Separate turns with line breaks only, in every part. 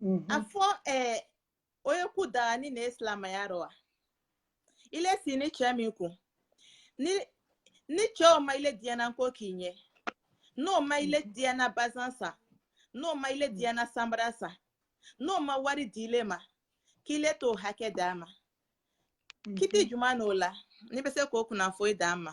Mhm. a fɔ ɛɛ o ye ko daganin ne ye silamɛya dɔ wa i le sigini cɛ min kun ni ni cɛ o ma i le diyanan ko k'i ye n'o ma i le diyanan bazan san n'o ma i le diyanan sanbara san n'o ma wari d'i le ma k'i le t'o hakɛ d'a ma kiti juman n'o la n'i bɛ se k'o kunnafoni d'an ma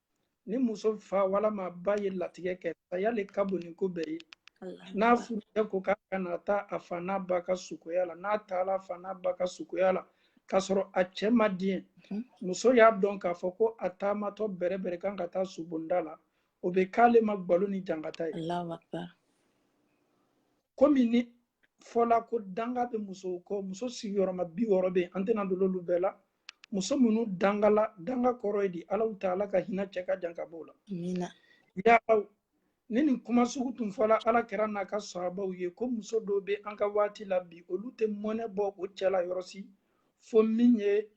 ni muso fa walama ba ye latigɛ kɛ saya le ka bon ni ko bɛɛ ye n'a furucɛ ko k'a kana taa a fa n'a ba ka sukoya la n'a taala a fa n'a ba ka sukoya la k'a sɔrɔ a cɛ ma diɲɛ muso y'a dɔn k'a fɔ ko a taamatɔ bɛrɛbɛrɛ kan ka taa subonda la o bɛ k'ale ma gbalo ni jankata ye komi nin fɔla ko danga bɛ musow kɔ muso sigiyɔrɔma bi wɔɔrɔ bɛ yen an tɛna don olu bɛɛ la muso minnu dangala danga kɔrɔ ye di alaw taala ka hinɛ cɛ ka jan ka b'o la yaani nin kuma sugu tun fɔla ala kira n'a ka sahabaw ye ko muso dɔw bɛ an ka waati la bi olu tɛ mɔnɛ bɔ o cɛ la yɔrɔ si fo min ye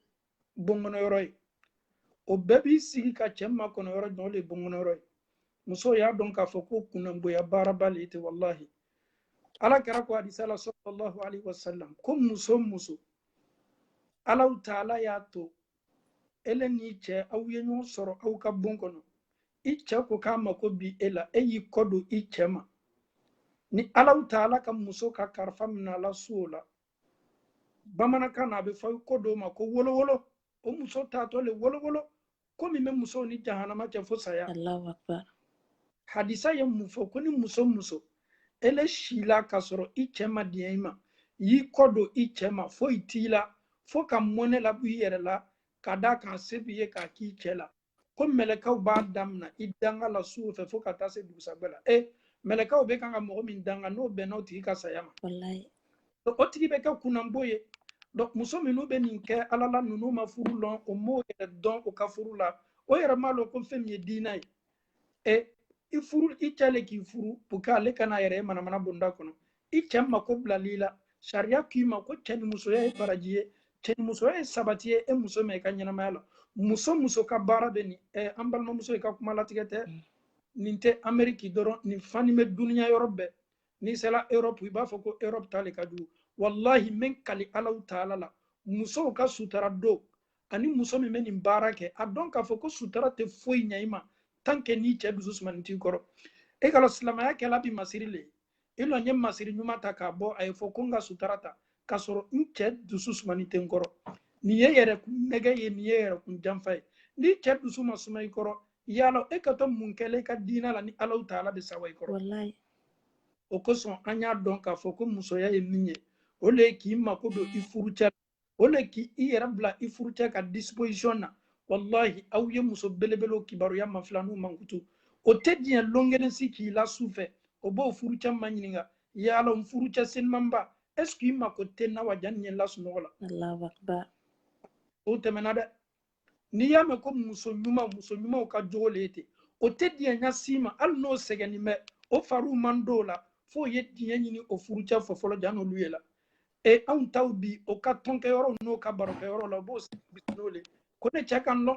bonkɔnɔ yɔrɔ ye o bɛɛ b'i sigi ka cɛ makɔnɔ yɔrɔ jɔn de ye bonkɔnɔ yɔrɔ ye muso y'a dɔn k'a fɔ ko kunnanboya baaraba le tɛ walahi ala kira ko hadisa la sallallahu alaihi wasallam ko muso muso alaw taala y'a to ele n'i cɛ aw ye ɲɔgɔn sɔrɔ aw ka bon kɔnɔ i cɛ ko k'a mako bi e la e y'i kɔ don i cɛ ma ni alaw taala ka muso ka karifa minɛ a la su o la bamanankan na a bɛ fɔ ko dɔw ma ko wolowolo o muso taatɔ le wolowolo ko min bɛ musow ni jahanama cɛ fo saya hadisa ye mun fɔ ko ni muso muso ele sila k'a sɔrɔ i cɛ ma diɲɛ i ma y'i kɔ don i cɛ ma foyi t'i la fo ka mɔnɛ labɔ i yɛrɛ la ka d'a kan se b'i ye k'a k'i cɛ la ko mɛlɛkaw b'a damina i danga la su o fɛ fo ka taa se dugusajɛ la e mɛlɛkaw bɛ kan ka mɔgɔ min danga n'o bɛnna o tigi ka saya ma Donc, o tigi bɛ kɛ kunnanbo ye donc muso minnu bɛ nin kɛ ala la ninnu ma furu lɔn o m'o yɛrɛ dɔn o ka furu la o yɛrɛ m'a lɔn ko fɛn min ye diinɛ ye e i furu i cɛ le k'i furu pour que ale kana yɛrɛ ye manamana bonda kɔnɔ i cɛ mako bilal'i la sariya k'i ma ko cɛ ni musoya ye baraji ye cɛ ni musoya ye sabati ye e muso ma i ka ɲɛnamaya la muso muso ka baara bɛ nin eh, an balimamuso i ka kuma latigɛ tɛ nin tɛ ameriki dɔrɔn nin fani bɛ duniya yɔrɔ bɛɛ n'i sera europe i b'a fɔ ko europe ta le ka jugu wallahi n bi n kali alaw taala la musow ka sutara don ani muso min bɛ nin baara kɛ a dɔn k'a fɔ ko sutara tɛ foyi ɲɛ i ma tant que n'i cɛ dusu sumanin t'i kɔrɔ e k'a dɔn silamɛya kɛla bi masiri le i lɔ n ye masiri ɲuman ta k'a bɔ a ye fɔ ko n ka sutara ta k'a sɔrɔ n cɛ dusu sumanin tɛ n kɔrɔ nin ye yɛrɛ kun nɛgɛn ye nin ye yɛrɛ kun janfa ye ni cɛ dusu ma suma i kɔrɔ yala e kɛtɔ mun kɛ le i ka diinɛ la ni alaw taala bɛ sɛwa i kɔrɔ o kosɔn an y'a dɔn k'a fɔ ko musoya ye min ye o le ye k'i mako don i furucɛ la o le k'i yɛrɛ bila i furucɛ ka disposition na walahi aw ye muso belebelew kibaruya mafilɛ n'u mankutu o tɛ diɲɛ lon kelen si k'i la su fɛ o b'o furucɛ maɲininka yaala n furucɛ senumanba est ce que i mako tɛ n na wa jani n ye la sunɔgɔ la o tɛmɛna dɛ n'i y'a mɛn ko muso ɲuman muso ɲumanw ka jogo le ye ten o tɛ diɲɛ ɲa si ma hali n'o sɛgɛnnin bɛ o fari man d'o la f'o ye diɲɛ ɲini o furucɛ fɛ fɔlɔ jan'olu ye la e anw taw bi o ka tɔnkɛ yɔrɔ n'o ka barokɛ yɔrɔ la o b'o n'o le ko ne cɛ k'a dɔn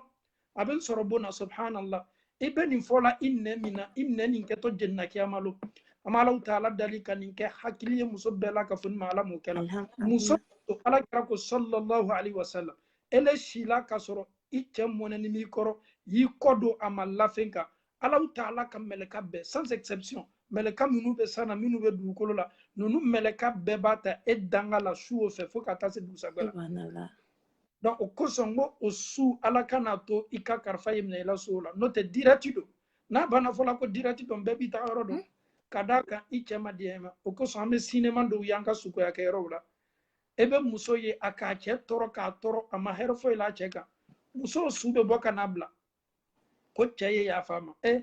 a bɛ n sɔrɔ bon na subhanallah i bɛ nin fɔ la i nɛn min na i nɛn nin kɛtɔ jenina kiyama lon an bɛ alaw taala dali ka nin kɛ hakili ye muso bɛɛ la ka fɔ ni ma ala m'o kɛ la muso ala kira ko sallallahu alaihi wasallam ele sila k'a sɔrɔ i cɛ mɔnɛnin b'i kɔrɔ i y'i kɔ don a ma lafen kan alaw taala ka mɛlɛka bɛɛ sans exception mɛlɛka minnu bɛ san na minnu bɛ dugukolo la ninnu mɛlɛka bɛɛ b'a ta e danga la su o fɛ fo ka taa se dugusajɛ la donc o kosɔn n ko o su ala kana to i ka karifa ye minɛ i la su o la n'o tɛ dirɛti don n'a banna fɔla ko dirɛti don bɛɛ b'i taa yɔrɔ dɔn hmm? ka d'a kan i cɛ ma diɲɛ i ma o kosɔn an bɛ sinema dɔw y'an ka sukoya kɛ yɔrɔw la i bɛ muso ye a k'a cɛ tɔɔrɔ k'a tɔɔrɔ a ma hɛrɛ foyi la cɛ kan muso su bɛ bɔ ka n'a bila ko cɛ ye yafa a ma e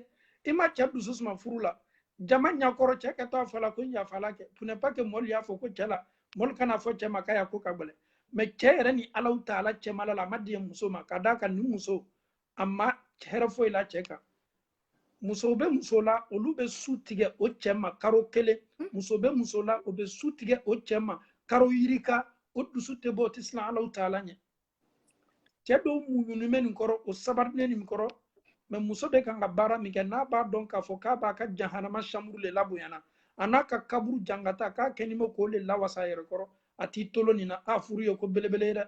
i ma cɛ dusu suma furu la jama ɲakɔrɔ cɛ kɛtɔ a fɔla ko n yafala kɛ pour ne pas que mɔɔlu y'a fɔ ko cɛ la mɔɔlu kan'a fɔ cɛ ma k'a ya ko ka gɛlɛn mais cɛ yɛrɛ ni alaw taala cɛmala la a ma diɲɛ muso ma ka d'a kan ni muso a ma hɛrɛ foyi la cɛ kan musow bɛ muso la olu bɛ su tigɛ o cɛ ma karo kelen hmm. muso bɛ muso la o bɛ su tigɛ o cɛ ma karo yirika o dusu tɛ bɔ o tɛ siran alaw taala ɲɛ cɛ dɔw muɲunen bɛ nin kɔrɔ o sabarinen nin kɔrɔ mais muso bɛ kan ka baara min kɛ n'a b'a dɔn k'a fɔ k'a b'a ka jahanama chambre le labonyana an'a ka kaburu jangata k'a kɛnin bɛ k'o le lawasa a yɛrɛ kɔrɔ a tɛ tolon nin na a furu ye ko belebele ye dɛ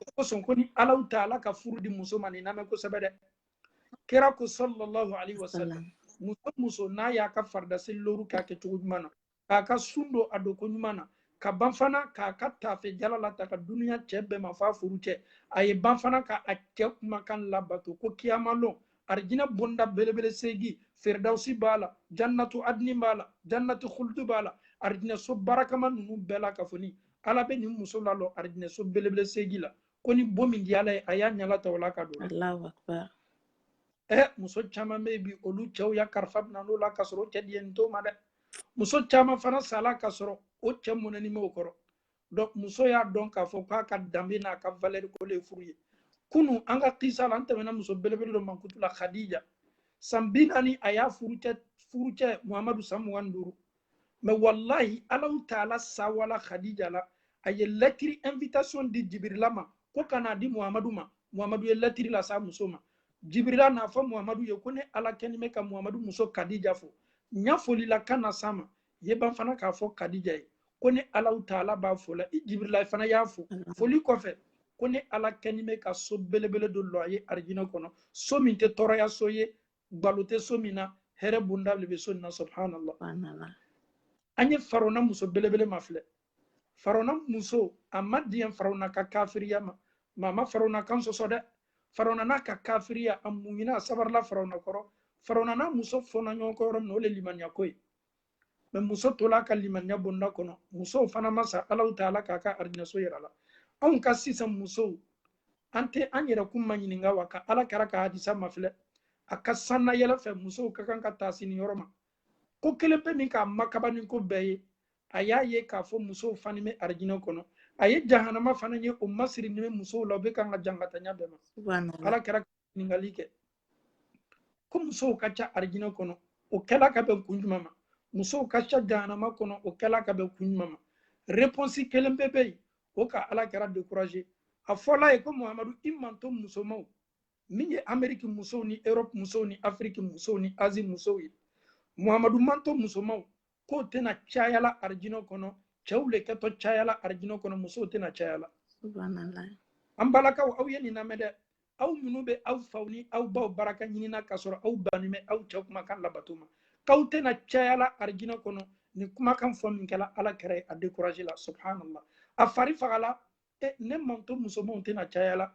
o kosɔn ko ni alaw taala ka furu di muso ma nin lamɛn kosɛbɛ dɛ kira ko sallallahu alaihi wasallam muso muso n'a y'a ka farida seli loru k'a kɛ cogo ɲuman na k'a ka sun don a don ko ɲuman na ka ban fana k'a ka tafe jala latanga duniya cɛ bɛɛ ma f'a furucɛ a ye ban fana ka a cɛ kumakan labato ko kiyama lon arijinɛ bonda belebele seegi firidawusi b'a la jannatu adini b'a la jannatu khuldu b'a la arijinɛso barakama ninnu bɛɛ la ka fɔ ni ala bɛ nin muso lalɔ arijinɛso belebele seegi la ko ni bon min di ala ye a y'a ɲala ta o la ka don ɛ muso caman bɛ bi olu cɛw ya karifa minan'o la ka sɔrɔ o cɛ diɲɛnin t'o ma dɛ muso caman fana sala ka sɔrɔ o cɛ mɔnɛni m'o kɔrɔ donc muso y'a dɔn k'a fɔ k'a ka danbe n'a ka valeur ko le ye furu ye kunu an ka kisa la an tɛmɛna muso belebele dɔ mankutu la khadija san bi naani a y'a furucɛ furu cɛ muhamadu san mugan ni duuru mais wallahi alahu taala sawala khadija la a ye lɛtiri invitation di jibirila ma ko ka n'a di muhamadu ma muhamadu ye lɛtiri las'a muso ma jibirila n'a fɔ muhamadu ye ko ne ala kɛni bɛ ka muhamadu muso kadija fo n y'a foli la ka na s'a ma ye ban fana k'a fɔ kadija ye ko ne alahu taala b'a fola i jibirila fana y'a fo foli kɔfɛ ko ne ala kɛni bɛ ka so belebele dɔ lɔ a ye arijinɛ kɔnɔ so min tɛ tɔɔrɔya so ye gbalo tɛ so min na hɛrɛ bonda le bɛ so nin na subhanallah an ye farawuna muso belebele mafilɛ farawuna muso a ma diɲɛ farawuna ka kafiriya ma mais a ma farawuna kan sɔsɔ dɛ farawuna n'a ka kafiriya a muɲuna a sabarila farawuna kɔrɔ farawuna n'a muso fɔnna ɲɔgɔn kɔ yɔrɔ min na o le limaniya ko ye mais muso tola ka limaniya bonda kɔnɔ musow fana ma sa alahu taala k'a ka arijinaso yir'a la anw ka sisan musow an tɛ an yɛrɛkun maɲininka wa ka ala kira ka hadisa mafilɛ a ka sannayɛlɛ fɛ musow ka kan ka taasi nin yɔrɔ ma ko kelen pe min k'a makaba ni ko bɛɛ ye a y'a ye k'a fɔ musow fani bɛ arijinɛ kɔnɔ a ye jahanama fana ye o masirini bɛ musow la u bɛ kan ka jangatanya bɛɛ ma ala kira ɲininkali kɛ ko musow ka ca arijinɛ kɔnɔ o kɛla ka bɛn kun jumɛn ma musow ka ca jahanama kɔnɔ o kɛla ka bɛn kun jumɛn ma reponsi kelen pe bɛ yen o ka ala kira dekuraze a fɔla a ye ko muhamadu i mantɔn musomaw min ye ameriki musow ni erɔpu musow ni afiriki musow ni azi musow ye muhamadu mantɔn musomaw k'o tɛna cayala arijinɛ kɔnɔ cɛw le kɛtɔ cayala arijinɛ kɔnɔ musow tɛna cayala an balakaw aw ye nin lamɛn dɛ aw minnu bɛ aw faw ni aw baw baraka ɲinina k'a sɔrɔ aw banni bɛ aw cɛ kumakan labato ma k'aw tɛna cayala arijinɛ kɔnɔ nin kumakan fɔ min kɛla ala kira ye a dekurazela subhanallah a fari fagala e ne mantɔn musomanw tɛna cayala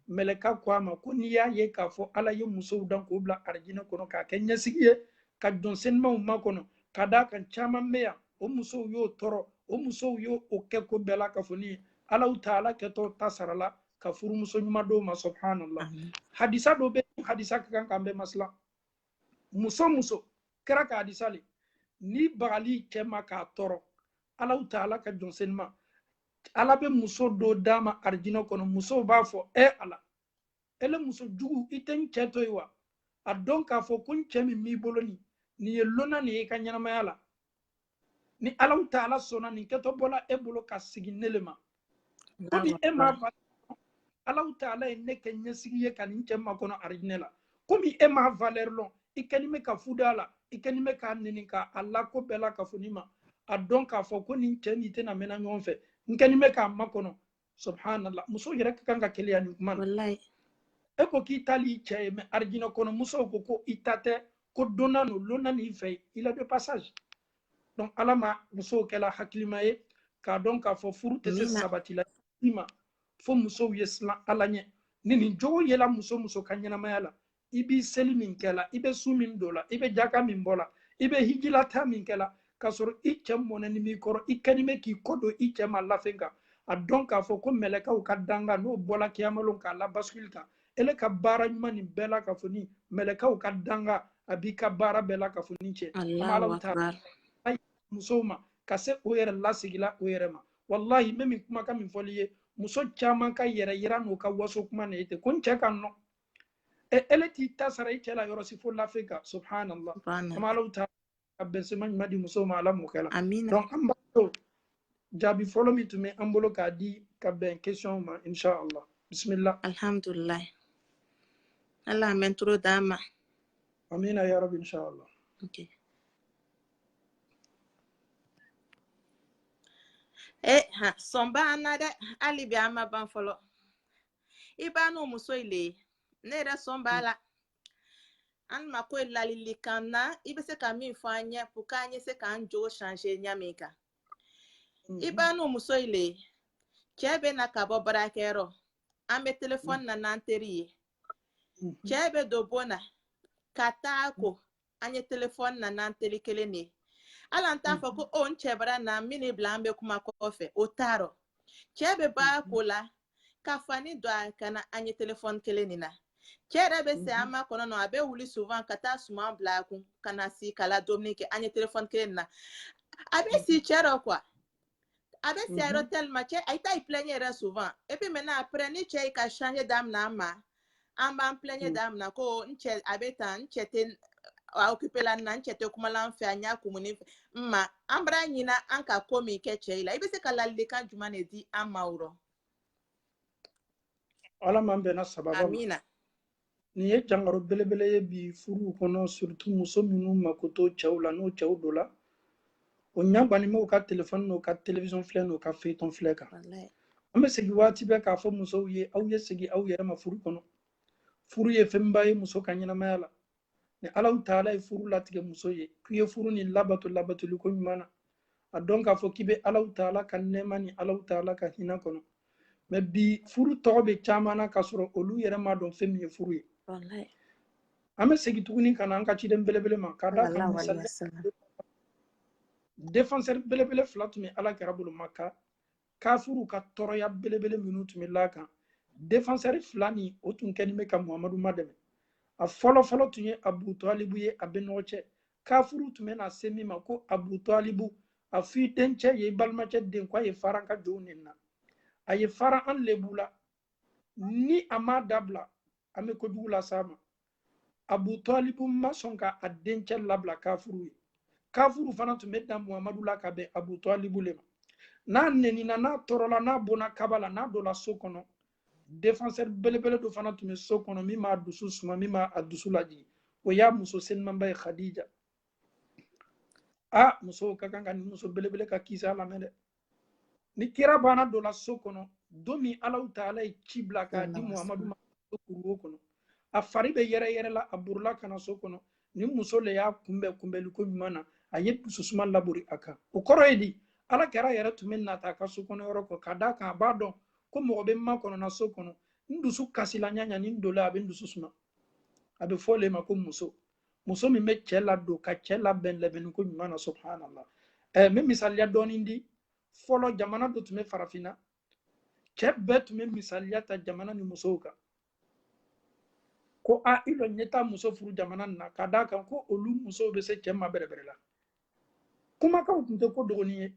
mɛlɛka ko a ma ko n'i y'a ye k'a fɔ ala ye musow dan k'o bila arijinɛ kɔnɔ k'a kɛ ɲɛsigi ye ka jɔn senimaw makɔnɔ ka d'a kan caman bɛ yan o musow y'o tɔɔrɔ o musow y'o o kɛ ko bɛɛ la ka fɔ ni alahu taala kɛtɔ ta sara la ka furumuso ɲuman d'o ma subhanallah hadisa dɔ bɛ hadisa ka kan k'an bɛɛ masilan muso muso kɛra ka hadisa le ni bagali cɛ ma k'a tɔɔrɔ alahu taala ka jɔn senima ala bɛ muso dɔ d'a ma arijinɛ kɔnɔ musow b'a fɔ e ala ele muso jugu i tɛ n cɛ to yen wa a dɔn k'a fɔ ko n cɛ min b'i bolo nin nin ye lonan ni ye i ka ɲɛnamaya la ni alahu taala sɔnna nin kɛtɔ bɔla e bolo ka sigi ne le ma komi e m'a fa alahu taala ye ne kɛ ɲɛsigi ye ka nin cɛ makɔnɔ arijinɛ la komi e m'a valeur lɔn i kɛni bɛ ka fuda a la i kɛni bɛ k'a ɲininka a la ko bɛɛ lakafoni ma a dɔn k'a fɔ ko nin cɛ n'i tɛna mɛnna ɲɔgɔn fɛ n kɛni bɛ k'a makɔnɔ subhanallah muso yɛrɛ ka kan ka keleya nin kuma na e ko k'i ta le i cɛ ye mais arijinɛ kɔnɔ musow ko ko i ta tɛ ko dunan n'o lonan n'i fɛ i la de passage donc ala ma musow kɛla hakilima ye k'a dɔn k'a fɔ furu tɛ se sabatila i ma fo musow ye siran ala ɲɛ ni nin jogo yela muso muso ka ɲɛnamaya la i b'i seli min kɛla i bɛ sun min don la i bɛ jaka min bɔ la i bɛ hijilata min kɛla k'a sɔrɔ i cɛ mɔnɛni b'i kɔrɔ i kɛni bɛ k'i kɔ don i cɛ ma lafen kan a dɔn k'a fɔ ko mɛlɛkaw ka danga n'o bɔla kiyamalon k'a la bascule kan ele ka baara ɲuman nin bɛɛ lakafoni mɛlɛkaw ka danga a b'i ka baara bɛɛ lakafoni cɛn Alahu akbar. musow ma ka se o yɛrɛ lasigila o yɛrɛ ma walahi n bɛ min kumakan min fɔl'i ye muso caman ka yɛrɛyira n'u ka waso kuma na ye ten ko n cɛ ka nɔ e ele t'i ta sara i cɛ la yɔrɔ si fo lafen kan subhanallah kama alahu taala ka bɛnsema ɲuman di musow ma ala m'o kɛla donc an b'a to jaabi fɔlɔ min tun bɛ an bolo k'a di ka bɛn question ma inshallah bisimila alhamdulillah ala an bɛ toro d'a ma amina ya rabi inshallah okay. e ha sɔn b'an na dɛ hali bi an ma ban fɔlɔ i b'anu muso i le ye ne yɛrɛ sɔn b'a la an mako i ladilikan na i bɛ se ka min fɔ an ɲɛ pour k'an ye se k'an jogo change ɲa min kan i b'anu muso i le ye cɛ bɛ na ka bɔ baarakɛyɔrɔ an bɛ telefɔni na n'an teri ye cɛ bɛ don bon na ka taa ko an ye telefɔni na n'an teri kelen de ye hali an t'a fɔ ko o n cɛ bara na n bɛn'i bila an bɛ kuma kɔfɛ o t'a rɔ cɛ bɛ ban a ko la ka fani don a ka na an ye telefɔni kelen de na cɛ yɛrɛ bɛ se an makɔnɔ nɔ a bɛ wuli souvent ka taa suman bila a kun ka na si k'a la dumuni kɛ an ye telefɔni kelen na a bɛ se cɛ rɔ quoi a bɛ se a rɔ tellement cɛ a ta i plɛɲɛ yɛrɛ souvent et puis maintenant après ni cɛ i ka changer daminɛ an ma an b'an plɛɲɛ daminɛ ko n cɛ a bɛ tan n cɛ tɛ a occuper la n na n cɛ tɛ kuma la n fɛ a ɲa kumuni fɛ n ma an bara ɲina an ka ko min kɛ cɛ i la i bɛ se ka ladilikan jumɛn de di an ma o rɔ ala m'an bɛnna sababu ma amina nin ye jangaro belebele ye bi furuw kɔnɔ surtout muso minnu mako t'o cɛw la n'o cɛw dola o ɲa gwannin b'o ka telefɔni n'o ka television filɛ n'o ka feuilleton filɛ kan an bɛ segi waati bɛɛ k'a fɔ musow ye aw ye segi aw yɛrɛ ma furu kɔnɔ furu ye fɛnba ye muso ka ɲɛnamaya la ni alahu taala ye furu latigɛ muso ye k'i ye furu nin labato labatoli ko ɲuman na a dɔn k'a fɔ k'i bɛ alahu taala ka nɛɛma ni alahu taala ka hinɛ kɔnɔ mɛ bi furu tɔgɔ bɛ caman na k'a sɔrɔ olu yɛrɛ ma dɔn fɛn min ye furu ye an bɛ segin tuguni ka na an ka ciden belebele ma k'a da kan misali defenseur belebele fila tun bɛ ala kira bolo maka kafuruw ka tɔɔrɔya belebele minnu tun bɛ l'a kan defansɛri fila nin o tun kɛlen bɛ ka muhamadu madɛmɛ a fɔlɔ fɔlɔ tun ye abu talibu ye a bɛnɔgɔcɛ kafuruw tun bɛ na se min ma ko abu talibu a f'i dencɛ ye i balimacɛ den ko a ye fara an ka jow neni na a ye fara an lebu la ni a m'a dabila an bɛ kojugu las'a ma abu talibu ma sɔn ka a dencɛ labila kafuruw ye kafuruw fana tun bɛ dan muhamadu la ka bɛn abu talibu le ma n'a nenina n'a tɔɔrɔla n'a bonna kaba la n'a dola so kɔnɔ defenseur belebele dɔ fana tun bɛ so kɔnɔ min b'a dusu suma min b'a a dusu lajigin o y'a muso senimanba ye khadija a musow ka kan ka nin muso belebele ka kisa lamɛn dɛ ni kira banna dola so kɔnɔ don min alahu taala ye ci bila k'a di muhamadu ma kuruwo kɔnɔ a fari bɛ yɛrɛ yɛrɛ la a borila ka na so kɔnɔ nin muso le y'a kunbɛn kunbɛli ko ɲuman na a ye dususuma labori a kan o kɔrɔ ye di ala kira yɛrɛ tun bɛ nata a ka so kɔnɔ yɔrɔ kɔ ka d'a kan a b'a dɔn ko mɔgɔ bɛ n makɔnɔ na so kɔnɔ n dusu kasila ɲa o ɲa ni n dola a bɛ n dusu suma a bɛ f'o le ma ko muso muso min bɛ cɛ ladon ka cɛ labɛn labɛnni ko ɲuman na subhanallah ɛɛ eh, n bɛ misaliya dɔɔni di fɔlɔ jamana dɔ tun bɛ farafinna cɛ bɛɛ tun bɛ misaliya ta jamana nin musow kan ko a i lɔ n ye taa muso furu jamana nin na ka d'a kan ko olu musow bɛ se cɛ ma bɛrɛbɛrɛ la kumakanw tun tɛ ko dogonin ye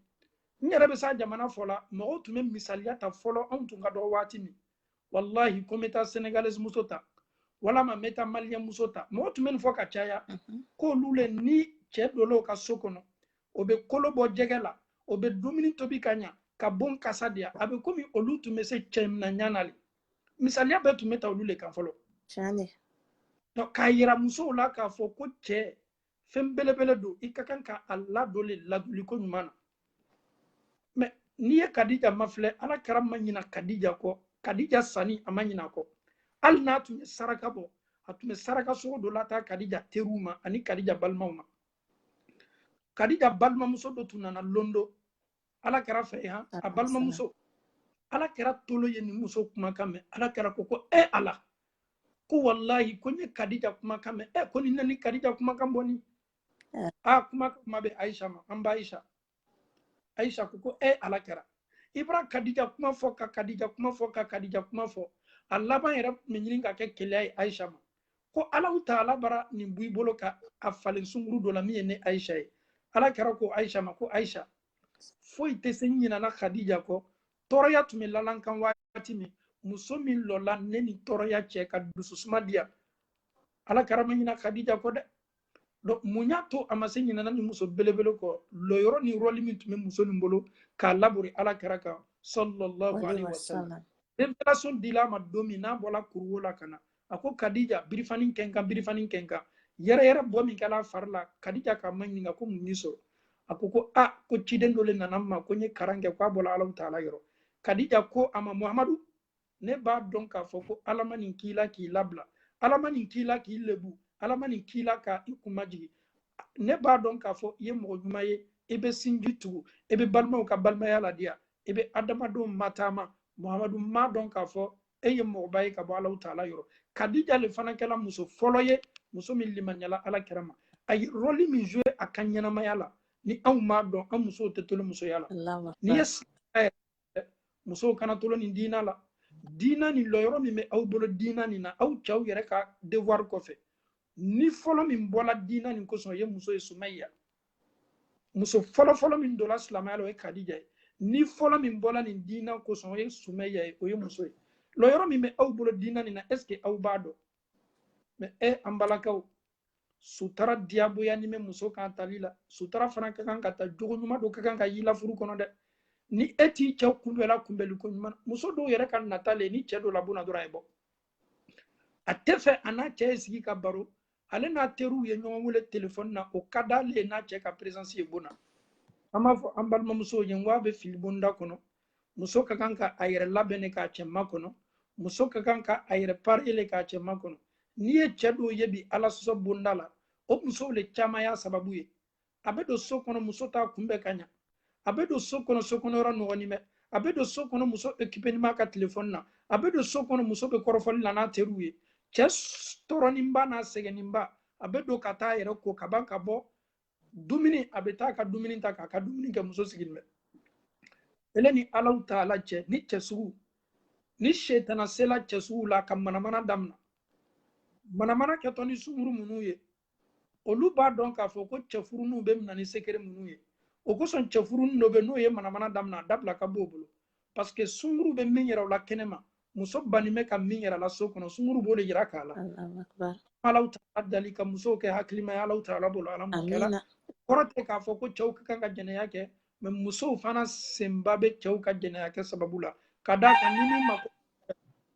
n yɛrɛ bɛ s'a jamana fɔ la mɔgɔw tun bɛ misaliya ta fɔlɔ anw tun ka dɔgɔ waati min walahi ko n bɛ taa senegalaise muso ta walama n bɛ taa maliyɛn muso ta mɔgɔ tun bɛ nin fɔ ka caya mhm. k'olu le ni cɛ dol'o ka so kɔnɔ o bɛ kolo bɔ jɛgɛ la o bɛ dumuni tobi ka ɲa ka bon kasa diya a bɛ komi olu tun bɛ se cɛ mina ɲa na le misaliya bɛɛ tun bɛ ta olu le kan fɔlɔ k'a yira musow la k'a fɔ ko cɛ fɛn belebele don i ka kan ka a ladon le ladonli ko ɲuman na mɛ n'i ye kadija mafilɛ ala kira ma ɲina kadija kɔ kadija sanin a ma ɲin'a kɔ hali n'a tun ye saraka bɔ a tun bɛ saraka sogo dɔ lataa kadija teriw ma ani kadija balimaw ma kadija balimamuso dɔ tun nana lon dɔ ala kɛra fɛ yan a balimamuso ala kɛra tolo ye nin muso kumakan mɛn ala kɛra ko ko e ala ko walayi ko n ye kadija kumakan mɛn e ko nin ani kadija kumakan bɔnin a kuma kuma bɛ ayisa ma an ba ayisa ayisa ko ko e ala kɛra i bara kadija kuma fɔ ka kadija kuma fɔ ka kadija kuma fɔ a laban yɛrɛ tun bɛ ɲini ka kɛ keleya ye ayisa ma ko alaw taala bara nin b'i bolo ka a falen sunkuru dɔ la min ye ne ayisa ye ala kɛra ko ayisa ma ko ayisa foyi tɛ se n ɲinana khadija kɔ tɔɔrɔya tun bɛ lala n kan waati min muso min lɔla ne ni tɔɔrɔya cɛ ka dususuma diya ala kɛra ma ɲina khadija kɔ dɛ donc mun y'a to a ma se ɲinana nin muso belebele kɔ lɔyɔrɔ ni rɔli min tun bɛ muso nin bolo k'a labori ala kɛra kan sallallahu alaihi wasallam revelation dila a ma don min n'a bɔla kuruwo la ka na a ko kadija birifani kɛ n kan birifani kɛ n kan yɛrɛyɛrɛ bɔ min kɛla a fari la kadija k'a maɲininka ko mun y'i sɔrɔ a ko ko a ko ciden dɔ le nana n ma ko n ye karan kɛ ko a bɔla alaw taala yɔrɔ kadija ko a ma muhamadu ne b'a dɔn k'a fɔ ko ala ma nin k'i la k'i labila ala ma nin k'i la k'i lebu ala ma nin k'i la ka i kun majigin ne b'a dɔn k'a fɔ i ye mɔgɔ ɲuman ye i bɛ sinji tugu i bɛ balimaw ka balimaya ladiya i bɛ adamadenw mataama muhamadu n b'a dɔn k'a fɔ e ye mɔgɔba ye ka bɔ alaw taala yɔrɔ kadija le fana kɛla muso fɔlɔ ye muso min limaniyala ala kɛra ma a ye rɔli min joue a ka ɲɛnamaya la ni anw m'a dɔn an musow tɛ tolon musoya la n'i ye musow kana tolon nin diina la diina nin lɔyɔrɔ min bɛ aw bolo diina nin na aw cɛw yɛrɛ ka devoir kɔfɛ ni fɔlɔ min bɔla diina nin kosɔn o ye muso ye sumaya muso fɔlɔfɔlɔ min donna silamɛya la o ye kadija ye ni fɔlɔ min bɔla nin diina kosɔn o ye sumaya ye o ye muso ye lɔyɔrɔ min bɛ aw bolo diina nin na est ce que aw b'a dɔn mɛ e an balakaw sutara diyagoyanin bɛ muso kan tali la sutara fana ka kan ka ta jogo ɲuman dɔ ka kan ka y'i la furu kɔnɔ dɛ ni e t'i cɛ kunbɛla kunbɛli ko ɲuman muso dɔw yɛrɛ ka nata le ye ni cɛ donna bon na dɔrɔn a ye bɔ a t'a fɛ a n'a cɛ ye sigi ka baro ale n'a teriw ye ɲɔgɔn wele telefɔni na o ka d'ale ye n'a cɛ ka peresansi ye bon na an b'a fɔ an balimamusow ye n ko a bɛ fili bonda kɔnɔ muso ka kan ka a yɛrɛ labɛn le k'a cɛ makɔnɔ muso ka kan ka a yɛrɛ pari le k'a cɛ makɔnɔ n'i ye cɛ dɔw ye bi ala sɔsɔ bonda la o musow le caman y'a sababu ye a bɛ don so kɔnɔ muso t'a kunbɛn ka ɲa a bɛ don so kɔnɔ so kɔnɔ yɔrɔ nɔgɔnin bɛ a bɛ don so kɔnɔ muso okipenin b'a ka telefɔni na a bɛ don so kɔnɔ muso bɛ kɔrɔfɔli la n'a teriw ye cɛ tɔɔrɔninba n'a sɛgɛnninba a bɛ don ka taa a yɛrɛ ko ka ban ka bɔ dumuni a bɛ taa ka dumuni ta k'a ka dumuni kɛ muso sigilen bɛ ele ni alahu taala cɛ ni cɛ sugu ni setana sela cɛ sugu la ka manamana damina manamana kɛtɔ ni sunguru minnu ye olu b'a dɔn k'a fɔ ko cɛfuruninw bɛ mina ni sekere minnu ye o kosɔn cɛfurunin dɔ bɛ n'o ye manamana damina a dabila ka bon o bolo parce que sunguru bɛ min yira o la kɛnɛma muso banni bɛ ka min yir'a la so kɔnɔ sunguru b'o le yirak'a la alahu taala dali ka musow kɛ hakilima ye alahu taala bolo ala m'a kɛra kɔrɔ tɛ k'a fɔ ko cɛw ka kan ka jɛnɛya kɛ mɛ musow fana senba bɛ cɛw ka jɛnɛya kɛ sababu la ka d'a kan ni min mako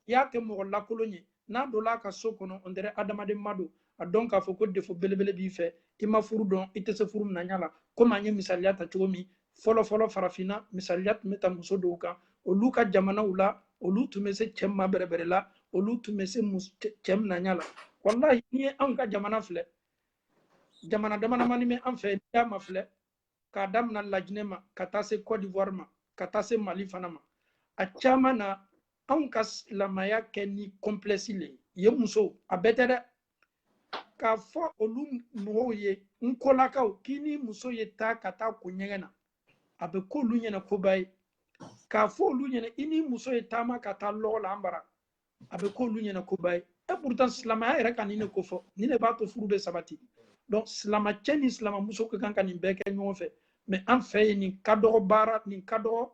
i y'a kɛ mɔgɔ lakolon ye n'a donna a ka so kɔnɔ on dirait adamaden ma don a dɔn k'a fɔ ko défaut belebele b'i fɛ i ma furu dɔn i tɛ se furu minaɲa la komi an ye misaliya ta cogo min fɔlɔ fɔlɔ farafinna misaliya tun bɛ ta muso dɔw kan olu ka jamanaw la olu tun bɛ se cɛ mabɛrɛbɛrɛ la olu tun bɛ se cɛ minaɲa la walahi n'i ye anw ka jamana filɛ jamana damadamani bɛ an fɛ n'i y'a mafilɛ k'a damina lajinɛ ma ka taa se cote d'ivoire ma ka taa se mali fana ma a caman na anw ka silamaya kɛ ni complexe le ye yen muso a bɛɛ tɛ dɛ k'a fɔ olu mɔgɔw ye n kolakaw k'i ni muso ye taa ka taa ko ɲɛgɛn na a bɛ k'olu ɲɛ na koba ye k'a fɔ olu ɲɛ na i ni muso ye taama ka taa lɔgɔ la an bara a bɛ k'olu ɲɛ na koba ye et pourtant silamaya yɛrɛ ka nin de kofɔ nin de b'a to furu bɛ sabati donc silama cɛ ni silama muso ka kan ka nin bɛɛ kɛ ɲɔgɔn fɛ mais an fɛ yen nin ka dɔgɔ baara nin ka dɔgɔ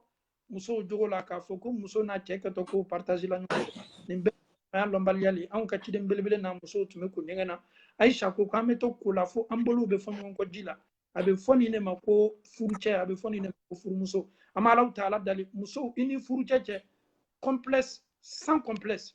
musow jogo la k'a fɔ ko muso n'a cɛ kɛtɔ ko partager la ɲɔgɔn nin bɛɛ y'a lɔnbaliya le anw ka ciden belebele n'a musow tun bɛ ko ɲɛgɛn na aisha ko k'an bɛ to ko la fo an bolow bɛ fɔ ɲɔgɔn kɔ ji la a bɛ fɔ nin de ma ko furucɛ a bɛ fɔ nin de ma ko furumuso an bɛ alahu taala dali musow i ni furucɛ cɛ complexe sans complexe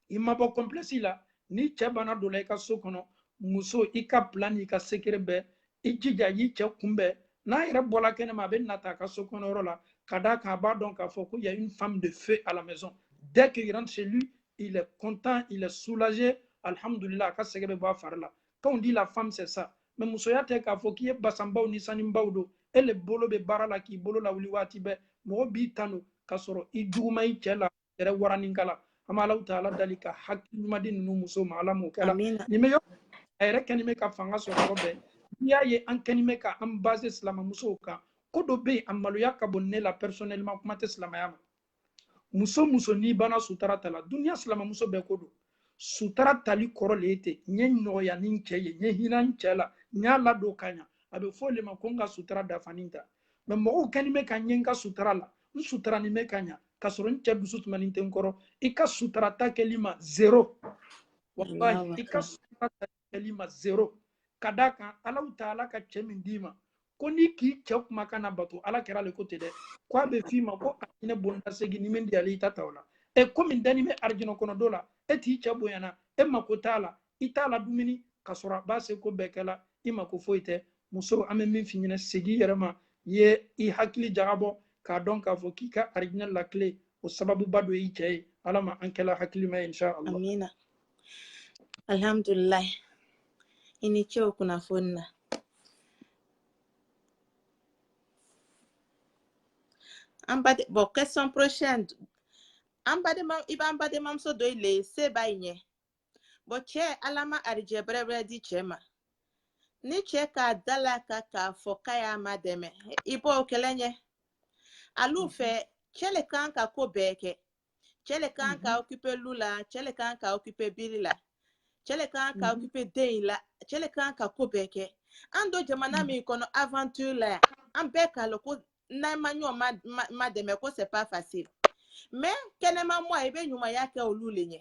i ma bɔ complexe la n'i cɛ banna don na i ka so kɔnɔ muso i ka plan n'i ka sekere bɛɛ i jija y'i cɛ kunbɛn n'a yɛrɛ bɔla kɛnɛma a bɛ nata a ka so kɔnɔ yɔrɔ la ka d'a kan a b'a dɔn k'a fɔ ko y a une femme de feu à la maison dès qu'il rentre chez lui il est content il est soulagé alhamdulillah a ka sɛgɛ bɛ bɔ a fari la quand on dit la femme c'est ça mais musoya tɛ k'a fɔ k'i ye basanbaw ni saninbaw don e le bolo bɛ baara la k'i bolo lawuli waati bɛɛ mɔgɔ b'i tanu k'a sɔrɔ i juguman i cɛ la yɛrɛ waranikala an bɛ alahu taala dali ka hakili ɲuman di ninnu muso ma ala m'o kɛla Amina. nin bɛ yɔrɔ a yɛrɛ kɛni bɛ ka fanga sɔrɔ yɔrɔ bɛɛ n'i y'a ye an kɛni bɛ ka an baser silamamusow kan ko dɔ bɛ yen a maloya ka bon ne la personnellement kuma tɛ silamaya ma muso muso n'i banna sutara ta la duniya silamamuso bɛɛ ko don sutara tali kɔrɔ le ye ten n ye nɔgɔya ni n cɛ ye n ye hina n cɛ la n y'a ladon ka ɲa a bɛ fɔ o le ma ko n ka sutara dafanin ta mɛ mɔgɔw kɛni bɛ ka n ye n ka sutara la n suturanin bɛ ka ɲa ka sɔrɔ n cɛ dusu sumanin tɛ n kɔrɔ i ka sutura ta kɛli ma zero wallahi i ka sutura ta kɛli ma zero ka d'a kan alahu taala ka cɛ min d'i ma ko n'i k'i cɛ kumakan nabato ala kira le ko ten dɛ ko a bɛ f'i ma ko arijinɛ bonda segin ni min diyali i ta ta o la e komi danin bɛ arijinɛ kɔnɔ don la e t'i cɛ bonyana e mako t'a la i t'a ladumuni ka sɔrɔ a b'a seko bɛɛ kɛla i mako foyi tɛ muso an bɛ min f'i ɲɛnɛ segin i yɛrɛ ma i ye i hakili jagabɔ k'a dɔn k'a fɔ k'i ka arijinɛ la kile o sababuba don i cɛ ye ala ma an kɛla hakilima ye insha allah amina alhamdulilayi i ni ce o kunnafoni na an baden bon question prochaine an badenma i b'an badenmamuso dɔ i le se b'a ɲɛ bon cɛ ala ma arijɛ bɛrɛbɛrɛ di cɛ ma ni cɛ k'a da laka k'a fɔ k'a y'a madɛmɛ i b'o kɛlɛ ɲɛ alu mhm. fɛ cɛ le kan ka ko bɛɛ kɛ cɛ le kan ka mhm. occuper lu la cɛ le kan ka occuper biri la cɛ le kan ka mhm. occuper den in la cɛ le kan ka ko bɛɛ kɛ an don jamana min kɔnɔ aventure la yan an bɛɛ k'a lɔn ko n'an ma ɲɔgɔn madɛmɛ ko c'est pas facile mais kɛnɛma mɔɔ i bɛ ɲumanya kɛ olu le ɲɛ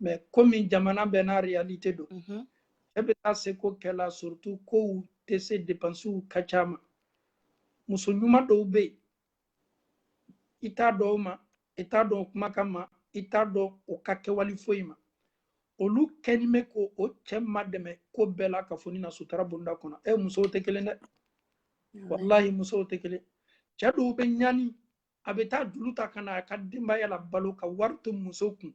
mais komi jamana bɛɛ n'a réalité don cɛ bɛ t'a seko kɛla surtout kow tɛ se depansiw ka ca mais muso ɲuman dɔw bɛ yen i t'a dɔn o ma i t'a dɔn o kumakan ma i t'a dɔn o ka kɛwale foyi ma olu kɛnin bɛ k'o cɛ madɛmɛ ko bɛɛ la ka fɔ ni na sutura bonda kɔnɔ ɛ musow tɛ kelen dɛ wallahi musow tɛ kelen cɛ dɔw bɛ ɲani a bɛ taa juru ta ka na a ka denbaya la balo ka wari to muso kun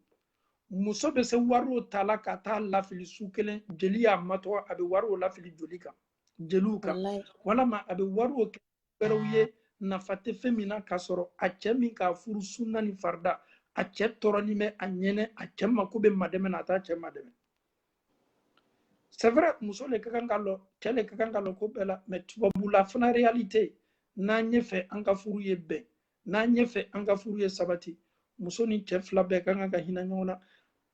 muso bɛ se wariw ta la ka t'a lafili su kelen jeli y'a matɔgɔ a bɛ wariw lafili joli kan jeliw kan walama a bɛ wariw kɛ wɛrɛw ye nafa tɛ fɛn min na k'a sɔrɔ a cɛ min k'a furu sunna ni farida a cɛ tɔɔrɔlen bɛ a ɲɛnɛ a cɛ mako bɛ madɛmɛ na a t'a cɛ madɛmɛ c'est vrai muso le ka kan ka lɔ cɛ le ka kan ka lɔ ko bɛɛ la mais tubabula fana réalité n'an y'a fɛ an ka furu ye bɛn n'an y'a fɛ an ka furu ye sabati muso ni cɛ fila bɛɛ ka kan ka hinɛ ɲɔgɔn na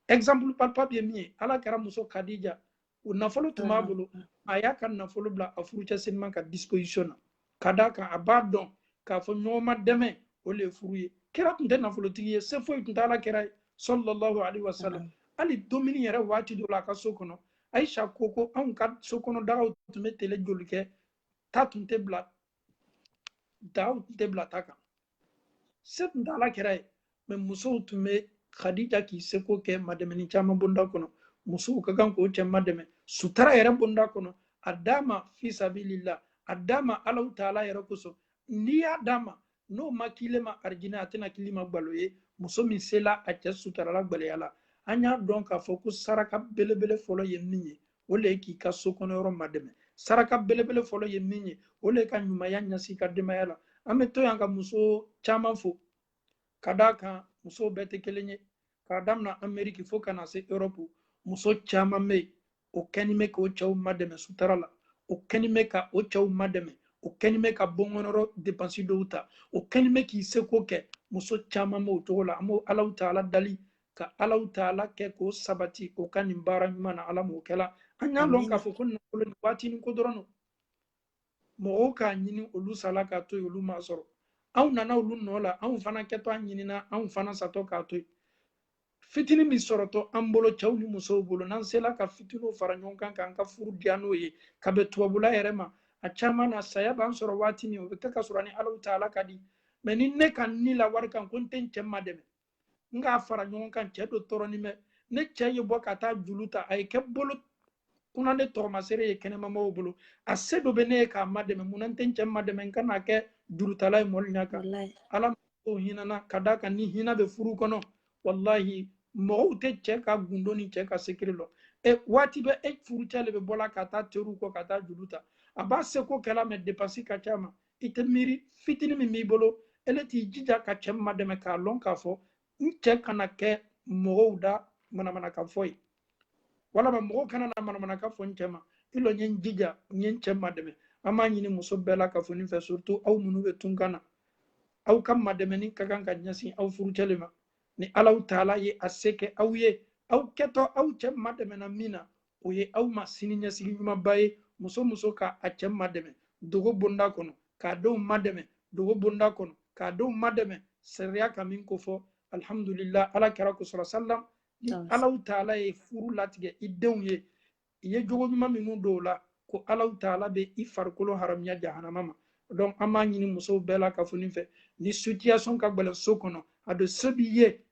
exemple palpable ye min ye ala kira muso kadija o nafolo tun b'a bolo a y'a ka nafolo bila a furucɛ senima ka disposition na ka d'a kan a b'a dɔn k'a fɔ ɲɔgɔn madɛmɛ o le ye furu ye kira tun tɛ nafolotigi ye se foyi tun t'ala kira ye sallallahu alaihi wasallam hali dumuni yɛrɛ waati dɔ la a ka so kɔnɔ ayisa ko ko anw ka so kɔnɔ dagaw tun bɛ tele joli kɛ ta tun tɛ bila dagaw tun tɛ bila ta kan se tun t'ala kɛra ye mɛ musow tun bɛ khadija k'i seko kɛ madɛmɛni caman bonda kɔnɔ musow ka kan k'o cɛ madɛmɛ sutara yɛrɛ bonda kɔnɔ a d'a ma fisabilila a d'a ma alahu taala yɛrɛ kosɔn n'i y'a d'a ma n'o ma k'ile ma arijinɛ a tɛna k'ile ma gbalo ye muso min sela a cɛ sutarala gbɛlɛya la an y'a dɔn k'a fɔ ko saraka belebele fɔlɔ ye min ye o le ye k'i ka so kɔnɔ yɔrɔ madɛmɛ saraka belebele fɔlɔ ye min ye o le ye ka ɲumanya ɲasi ka denbaya la an bɛ to yan ka muso caman fo ka d'a kan musow bɛɛ tɛ kelen ye k'a daminɛ ameriki fo ka na se erɔpu muso caman bɛ yen o kɛni bɛ k'o cɛw madɛmɛ sutara la o kɛni bɛ ka o cɛw madɛmɛ o kɛni bɛ ka bon kɔnɔrɔ depansi dɔw ta o kɛni bɛ k'i seko kɛ muso caman b'o cogo la an b'alahu taala dali ka alahu taala kɛ k'o sabati o ka nin baara ɲuman na ala m'o kɛla an y'a lɔn k'a fɔ ko nafolo ni waatinin ko dɔrɔn don mɔgɔw k'a ɲini olu sala k'a to yen olu m'a sɔrɔ anw nana olu nɔ la anw fana kɛtɔ a ɲinina anw fana satɔ k'a to yen fitini min sɔrɔtɔ an bolo cɛw ni musow bolo n'an sela ka fitiniw fara ɲɔgɔn kan k'an ka furu diya n'o ye ka bɛn tubabula yɛrɛ ma a caman na saya b'an sɔrɔ waati min o bɛ kɛ k'a sɔrɔ an ni alahu taala ka di mɛ ni ne ka n la wari kan ko n tɛ n cɛ madɛmɛ n k'a fara ɲɔgɔn kan cɛ do tɔɔrɔnin bɛ ne cɛ ye bɔ ka taa julu ta a ye kɛ bolo kuna ne tɔgɔmasere ye kɛnɛmamɔgɔw bolo a se do bɛ ne ye k'a madɛmɛ munna n tɛ n cɛ madɛmɛ n kana kɛ jurutala ye mɔli ɲa kan ala o hinana ka d'a kan ni hina bɛ furu kɔnɔ walahi mɔgɔw tɛ cɛ ka gundo ni cɛ ka secret lɔn e waati bɛɛ e furucɛ le bɛ bɔla ka taa teriw kɔ ka taa julu ta a b'a seko kɛla mɛ depansi ka c'a ma i tɛ miiri fitini min b'i bolo e le t'i jija ka cɛ madɛmɛ k'a lɔn k'a fɔ n cɛ kana kɛ mɔgɔw da manamanakan fɔ ye walama mɔgɔw kana na manamanakan fɔ n cɛ ma i lɔ n ye n jija n ye n cɛ madɛmɛ an b'a ɲini muso bɛɛ la kafo nin fɛ surtout aw minnu bɛ tunkan na aw ka madɛmɛni ka kan ka ɲɛsin aw furucɛ le ma ni alahu taala ye a se kɛ aw ye aw kɛtɔ aw cɛ madɛmɛna min na o ye aw ma sini ɲɛsigi ɲumanba ye muso muso ka a cɛ madɛmɛ dogo bonda kɔnɔ k'a denw madɛmɛ dogo bonda kɔnɔ k'a denw madɛmɛ sariya ka min kofɔ alhamdulillah ala kɛra ko sɔrɔ sallam ni alahu taala ye furu latigɛ i denw ye i ye jogo ɲuman minnu don o la ko alahu taala bɛ i farikolo haramuya jahanama ma donc an b'a ɲini musow bɛɛ la kafo nin fɛ ni situation ka gɛlɛn so kɔnɔ a bɛ so b'i ye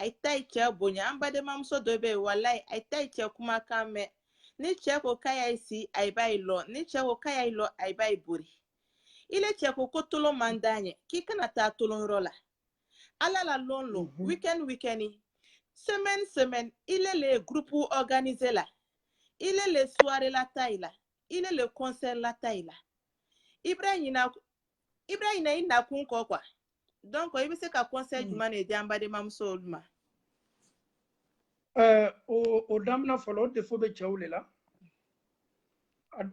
ayi t'ayi cɛ bonya an badenmamuso dɔ bɛ yen walayi ayi t'ayi cɛ kumakan mɛn ni cɛ ko k'ayi y'ayi si ayi b'ayi lɔ ni cɛ ko k'ayi y'ayi lɔ ayi b'ayi bori i le cɛ ko ko tolon man d'a ɲɛ k'i kana taa tolon yɔrɔ la ala la lon lon mhm. weekend weekend semaine semaine i le le groupe organiser la i le le soirée la ta i la i le le concert la ta i la i bara i ɲina i bɛ ɲinɛ i nakun kɔ quoi donc i bɛ se ka conseil mm. jumɛn de di an badenmamuso olu ma. Eh, o o daminɛ fɔlɔ o défaut bɛ cɛw de la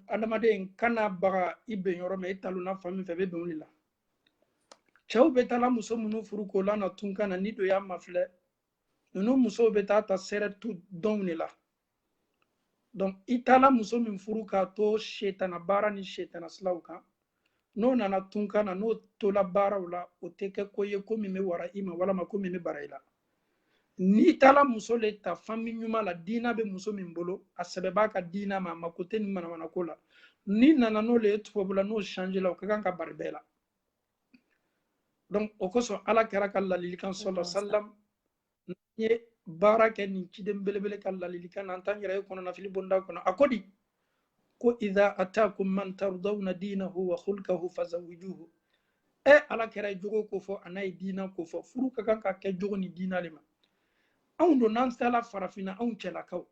adamaden kana baga i ben yɔrɔ ma i talonna fan min fɛ bɛ bɛn de la cɛw bɛ taala muso minnu furu k'o lana tunka na n'i don y'a mafilɛ ninnu musow bɛ taa ta surtout dɔnw de la donc i taala muso min furu k'a to setana baara ni setana silaw kan n'o nana tunka na n'o tola baaraw la o tɛ kɛ ko ye ko min bɛ wara i ma walama ko min bɛ bara i la n'i taala muso le ta fami ɲuman la diina bɛ muso min bolo a sɛbɛ b'a ka diina ma a mako tɛ nin manamanako la n'i nana n'o le ye tubabula n'o change la o ka kan ka bari bɛɛ la donc o kosɔn ala kira ka lalilikan sallallahu sallam n ye baara kɛ nin ciden belebele ka lalilikan na an t'an yɛrɛ ye kɔnɔnafili bonda kɔnɔ a ko di ko idha atakum man tardawna dinahu wa khulkahu fazawijuhu e ala kira ye jogo ko fɔ an'a ye diina ko fɔ furu ka kan ka kɛ jogo ni diina de ma anw don n'an sela farafinna anw cɛlakaw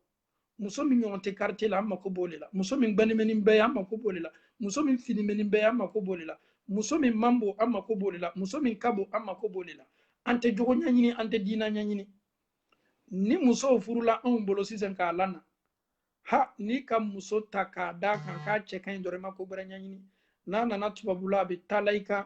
muso min ɲɔgɔn tɛ quartier la an mako b'o de la muso min gbɛnin bɛ ni bɛɛ ye an mako b'o de la muso min finnin bɛ ni bɛɛ ye an mako b'o de la muso min man bon an mako b'o de la muso min ka bon an mako b'o de la an tɛ jogo ɲɛɲini an tɛ diina ɲɛɲini ni musow furula anw bolo sisan k'a lana ha n'i ka muso ta k'a da kan k'a cɛ ka ɲi dɔrɔn i ma ko gbɛrɛ ɲɛɲini n'a nana tubabula a bɛ taala i kan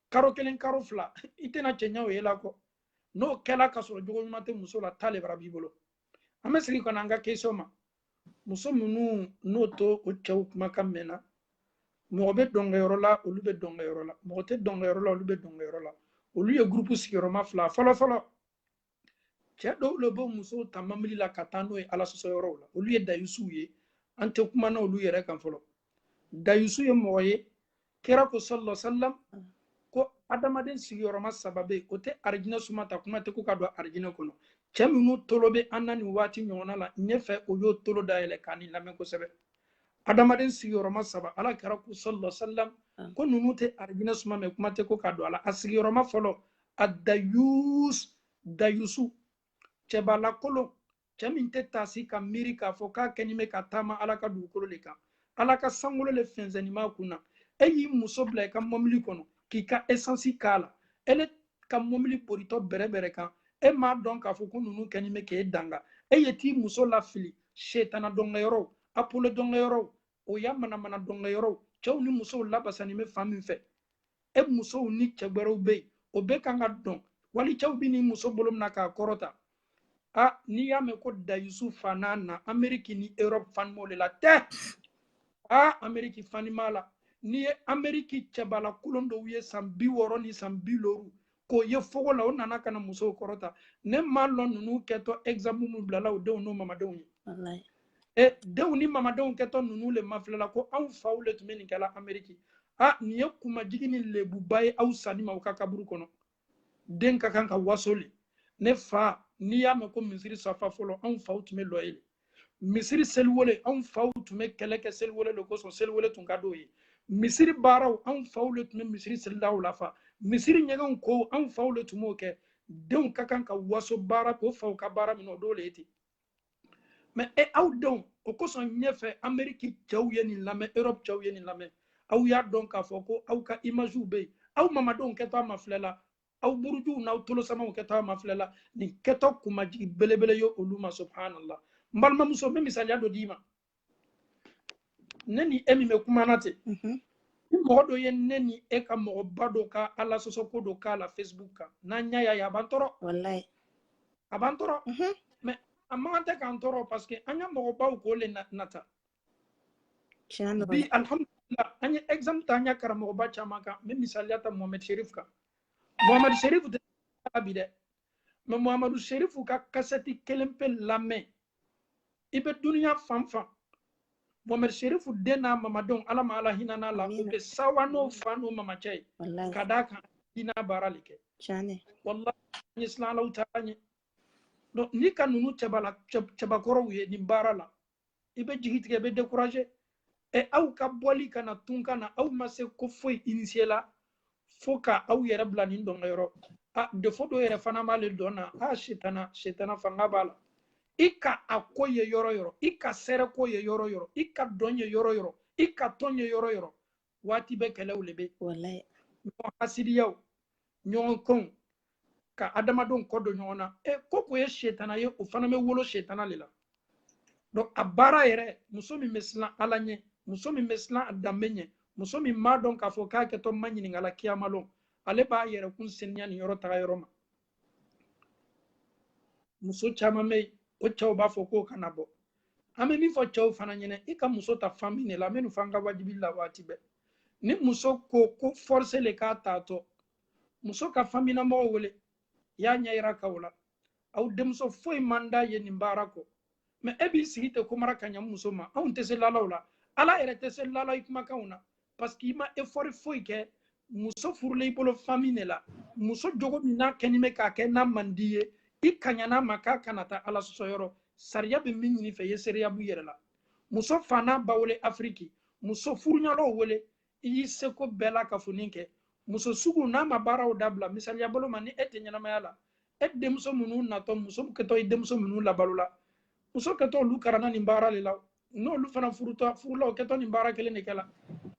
karo kelen karo fila i tɛna cɛɲa o ye la kɔ n'o kɛla ka sɔrɔ jogo ɲuman tɛ muso la ta lebara b'i bolo an bɛ segin ka na an ka question ma muso minnu n'o t'o cɛw kumakan mɛn na mɔgɔ bɛ dɔnkɛyɔrɔ la olu bɛ dɔnkɛyɔrɔ la mɔgɔ tɛ dɔnkɛyɔrɔ la olu bɛ dɔnkɛyɔrɔ la olu ye gurupu sigiyɔrɔma fila fɔlɔfɔlɔ cɛ dɔw le b'o musow ta mɔbili la ka taa n'o ye ala sɔsɔ yɔrɔw la olu ye dayusuw ye an tɛ kuma n'olu yɛrɛ kan fɔlɔ dayusu ye mɔgɔ ye kira ko sallallahu sallam ko adamaden sigiyɔrɔma saba bɛ yen o tɛ arijinɛ suma ta kuma tɛ ko ka don arijinɛ kɔnɔ cɛ minnu tolo bɛ an na nin waati ɲɔgɔnna la ɲɛfɛ o y'o tolo dayɛlɛ ka nin lamɛn kosɛbɛ adamaden sigiyɔrɔma saba ala kira ko sallallahu sallam ko ninnu tɛ arijinɛ suma mɛ kuma tɛ ko ka don a la a sigiyɔrɔma fɔlɔ a dayus dayusu cɛbalakolon cɛ min tɛ taasi ka miiri k'a fɔ k'a kɛnin bɛ ka taama ala ka dugukolo de kan ala ka sankolo le fɛnsɛnnin b'a kun na e y'i muso bila i ka mɔbili kɔnɔ k'i ka esansi k'a la e le ka mɔbili boritɔ bɛrɛbɛrɛ kan e m'a dɔn k'a fɔ ko ninnu kɛnin bɛ k'e danga e ye t'i muso lafili setana dɔnkɛyɔrɔw apolo dɔnkɛyɔrɔw o y'a manamana dɔnkɛ yɔrɔw cɛw ni musow labasani bɛ fan min fɛ e musow ni cɛ wɛrɛw bɛ yen o bɛ kan ka dɔn wali cɛw bɛ nin muso bolo mina k'a kɔrɔta a n'i y'a mɛn ko dayusu fana an na ameriki ni europe fanima de la tɛ a ameriki fanima la n'i ye ameriki cɛbala kolon dɔw ye san bi wɔɔrɔ ni san bi loru k'o ye fogo la o nana ka na musow kɔrɔta ne ma lɔn ninnu kɛtɔ exemple min bilala o denw n'o mamadenw ye e denw ni mamadenw kɛtɔ ninnu le mafilɛ la ko anw faw le tun bɛ nin kɛla ameriki a nin ye kumajigi ni lebuba ye aw sanin ma o ka kaburu kɔnɔ den ka kan ka waso le ne fa n'i y'a mɛn ko misiri safa fɔlɔ anw faw tun bɛ lɔ yen le misiri seliwele anw faw tun bɛ kɛlɛ kɛ seliwele de kosɔn seliwele tun ka d'o ye misiri baaraw anw faw de tun bɛ misiri selidaw lafa misiri ɲɛgɛnw ko anw faw de tun b'o kɛ denw ka kan ka waso bari o faw ka baara minnu o dɔ de ye ten mɛ e aw denw o kosɔn ɲɛfɛ ameriki cɛw ye nin lamɛn europe cɛw ye nin lamɛn aw y'a dɔn k'a fɔ ko aw ka imaziw bɛ yen aw mamadenw kɛtɔ a mafilɛ la aw burujuw n'aw tolosamaw kɛtɔ a mafilɛ la nin kɛtɔ kumajigi belebele ye olu ma subhanallah n balimamuso n bɛ misaliya dɔ d'i ma ne ni e min bɛ kumana ten mhm. ni mɔgɔ dɔ ye ne ni e ka mɔgɔba dɔ ka ala sɔsɔ ko dɔ k'a la facebook kan n'an y'a ye a b'an tɔɔrɔ walahi a b'an tɔɔrɔ mɛ a man kan tɛ k'an tɔɔrɔ parce que an ka mɔgɔbaw k'o le nata bi alhamdulillah an ye exemple ta an ya karamɔgɔba caman kan n bɛ misaliya ta mohamɛd sherif kan mohamɛd sherif tɛ bi dɛ mɛ mohamadu sherifu ka kasɛti kelen pe lamɛn i bɛ duniya fan fan mohamɛd sherifu den n'a mamadenw ala ma ala hinɛn'a la o bɛ sɛwa n'o fa n'o mamacɛ ye ka d'a kan dina baara de kɛ walahi an ye siran ala taala ɲɛ n'i ka ninnu cɛbakɔrɔw ye nin baara la i bɛ jigi tigɛ i bɛ décourager ɛ aw ka bɔli ka na tunga na aw ma se ko foyi initier la fo ka aw yɛrɛ bila nin dɔnkɛ yɔrɔ a des fois dɔ yɛrɛ fana b'ale dɔn na a setana setana fanga b'a la i ka a ko ye yɔrɔ yɔrɔ i ka sɛrɛ ko ye yɔrɔ yɔrɔ i ka dɔn ye yɔrɔ yɔrɔ i ka tɔn ye yɔrɔ yɔrɔ waati bɛɛ kɛlɛw le bɛ yen ɲɔgɔn hasidiyaw ɲɔgɔn kɔnw ka adamadenw kɔ don ɲɔgɔn na e ko ko ye setana ye o fana bɛ wolo setana de la donc a baara yɛrɛ muso min bɛ siran ala ɲɛ muso min bɛ siran a danbe ɲɛ muso min b'a dɔn k'a fɔ k'a kɛtɔ maɲininka la kiyama lon ale b'a yɛrɛkun seniya nin yɔrɔ taga yɔrɔ ma muso caman bɛ yen o cɛw b'a fɔ k'o kana bɔ an bɛ min fɔ cɛw fana ɲɛna i ka muso ta famille de la minnu f'an ka wajibi la waati bɛɛ ni muso ko ko force le k'a t'a to muso ka famille mɔgɔw wele y'a ɲɛ yira ka o la aw denmuso foyi man d'a ye nin baara kɔ mais e b'i sigi ten komara ka ɲa muso ma anw tɛ se lala o la ala yɛrɛ tɛ se lala i kumakanw na parce que i ma effort foyi kɛ muso furulen i bolo famille de la muso jogo min n'a kɛni bɛ k'a kɛ n'a man di i ye i kaɲana ma k'a kana taa ala sɔsɔyɔrɔ sariya bɛ min ɲini i fɛ ye seereya b'i yɛrɛ la muso fa n'a ba wele afiriki muso furuɲɔgɔnw wele i y'i seko bɛɛ lakafonin kɛ muso sugu n'a ma baaraw dabila misaliya bolo ma ni e tɛ ɲɛnamaya la e denmuso minnu natɔ muso kɛtɔ i denmuso minnu labalo la muso kɛtɔ olu karanna nin baara le la n'olu fana furutɔ furula o kɛtɔ nin baara kelen le kɛla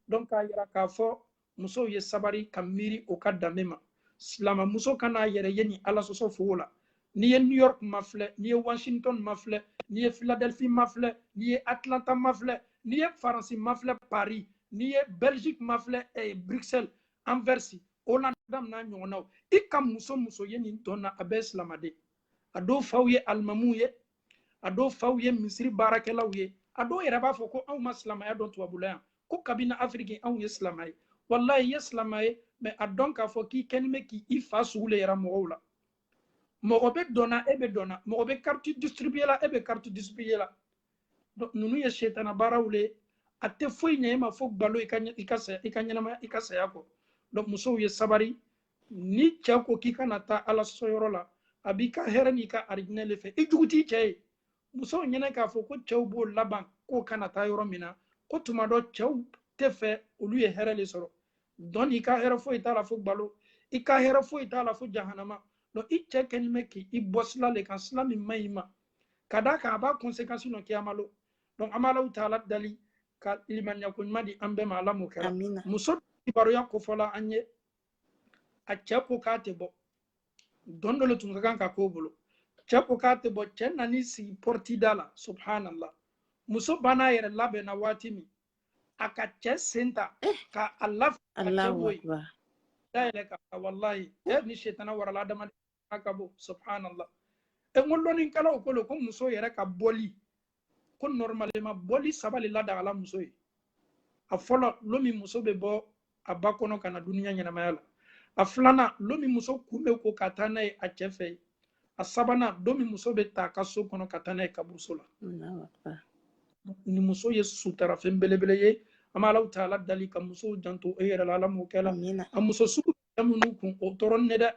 donc k'a yira k'a fɔ musow ye sabari ka miiri o ka danbe ma silamamuso kan'a yɛrɛ ye nin ala sɔsɔ fogo la n'i ye new york mafilɛ n'i ye washington mafilɛ n'i ye philadelphie mafilɛ n'i ye atlanta mafilɛ n'i ye faransi mafilɛ paris n'i ye belgique mafilɛ eh, bruxelles anvers hollande n'a ɲɔgɔnnaw i ka muso muso ye nin dɔn na a bɛɛ silamaden a dɔw faw ye alimamuw ye a dɔw faw ye misiri baarakɛlaw ye a dɔw yɛrɛ b'a fɔ ko anw ma silamaya dɔn tubabula yan ko kabini afiriki anw ye silama ye walayi i ye silama ye mais a dɔn k'a fɔ k'i kɛni bɛ k'i i fa sugu le yira mɔgɔw la mɔgɔ bɛ dɔn na e bɛ dɔn na mɔgɔ bɛ kariti distribuer la e bɛ kariti distribuer la donc ninnu ye setana baaraw le a tɛ foyi ɲɛ e ma fo gbalo i ka i ka saya i ka ɲɛnamaya i ka saya kɔ donc musow ye sabari ni cɛ ko k'i kana taa ala sɔsɔyɔrɔ la a b'i ka hɛrɛ n'i ka arijinɛ le fɛ i jugu t'i cɛ ye musow ɲɛna k'a fɔ ko cɛw b'o laban k'o kana taa yɔrɔ min na ko tuma dɔ cɛw t'a fɛ olu ye hɛrɛ le sɔrɔ donc i ka hɛrɛ foyi t'a la fo gbalo i ka hɛrɛ foyi t'a la fo jahanama donc i cɛ kɛni bɛ k'i bɔ sila le kan sila min man ɲi i ma ka d'a kan a b'a conséquence nɔ kiyama lon donc an b'alahu taala dali ka limaniyako ɲuman di an bɛɛ ma ala m'o kɛra muso kibaruya ko fɔla an ye a cɛ ko k'a tɛ bɔ dɔn dɔ le tun ka kan ka k'o bolo cɛ ko k'a tɛ bɔ cɛ nan'i sigi porte da la subhanallah muso banna a yɛrɛ labɛn na waati min a ka cɛ sen ta eh. ka a lafili ka cɛ bɔ yen da yɛlɛ ka walayi e ni setana warala adamaden ka bɔ subhanallah e n ko lɔnnikɛlaw ko le ko muso yɛrɛ ka bɔli ko normalement bɔli saba le ladagala muso ye a fɔlɔ lon min muso bɛ bɔ a ba kɔnɔ ka na duniya ɲɛnamaya la a filanan lon min muso kun bɛ ko ka taa n'a ye a cɛ fɛ a sabanan don min muso bɛ ta a ka so kɔnɔ ka taa n'a ye kaburuso la ni muso ye sutara fɛn belebele ye an b'alahu taala dali ka musow janto o yɛrɛ la ala m'o kɛla a muso sugu minnu kun o tɔɔrɔnen dɛ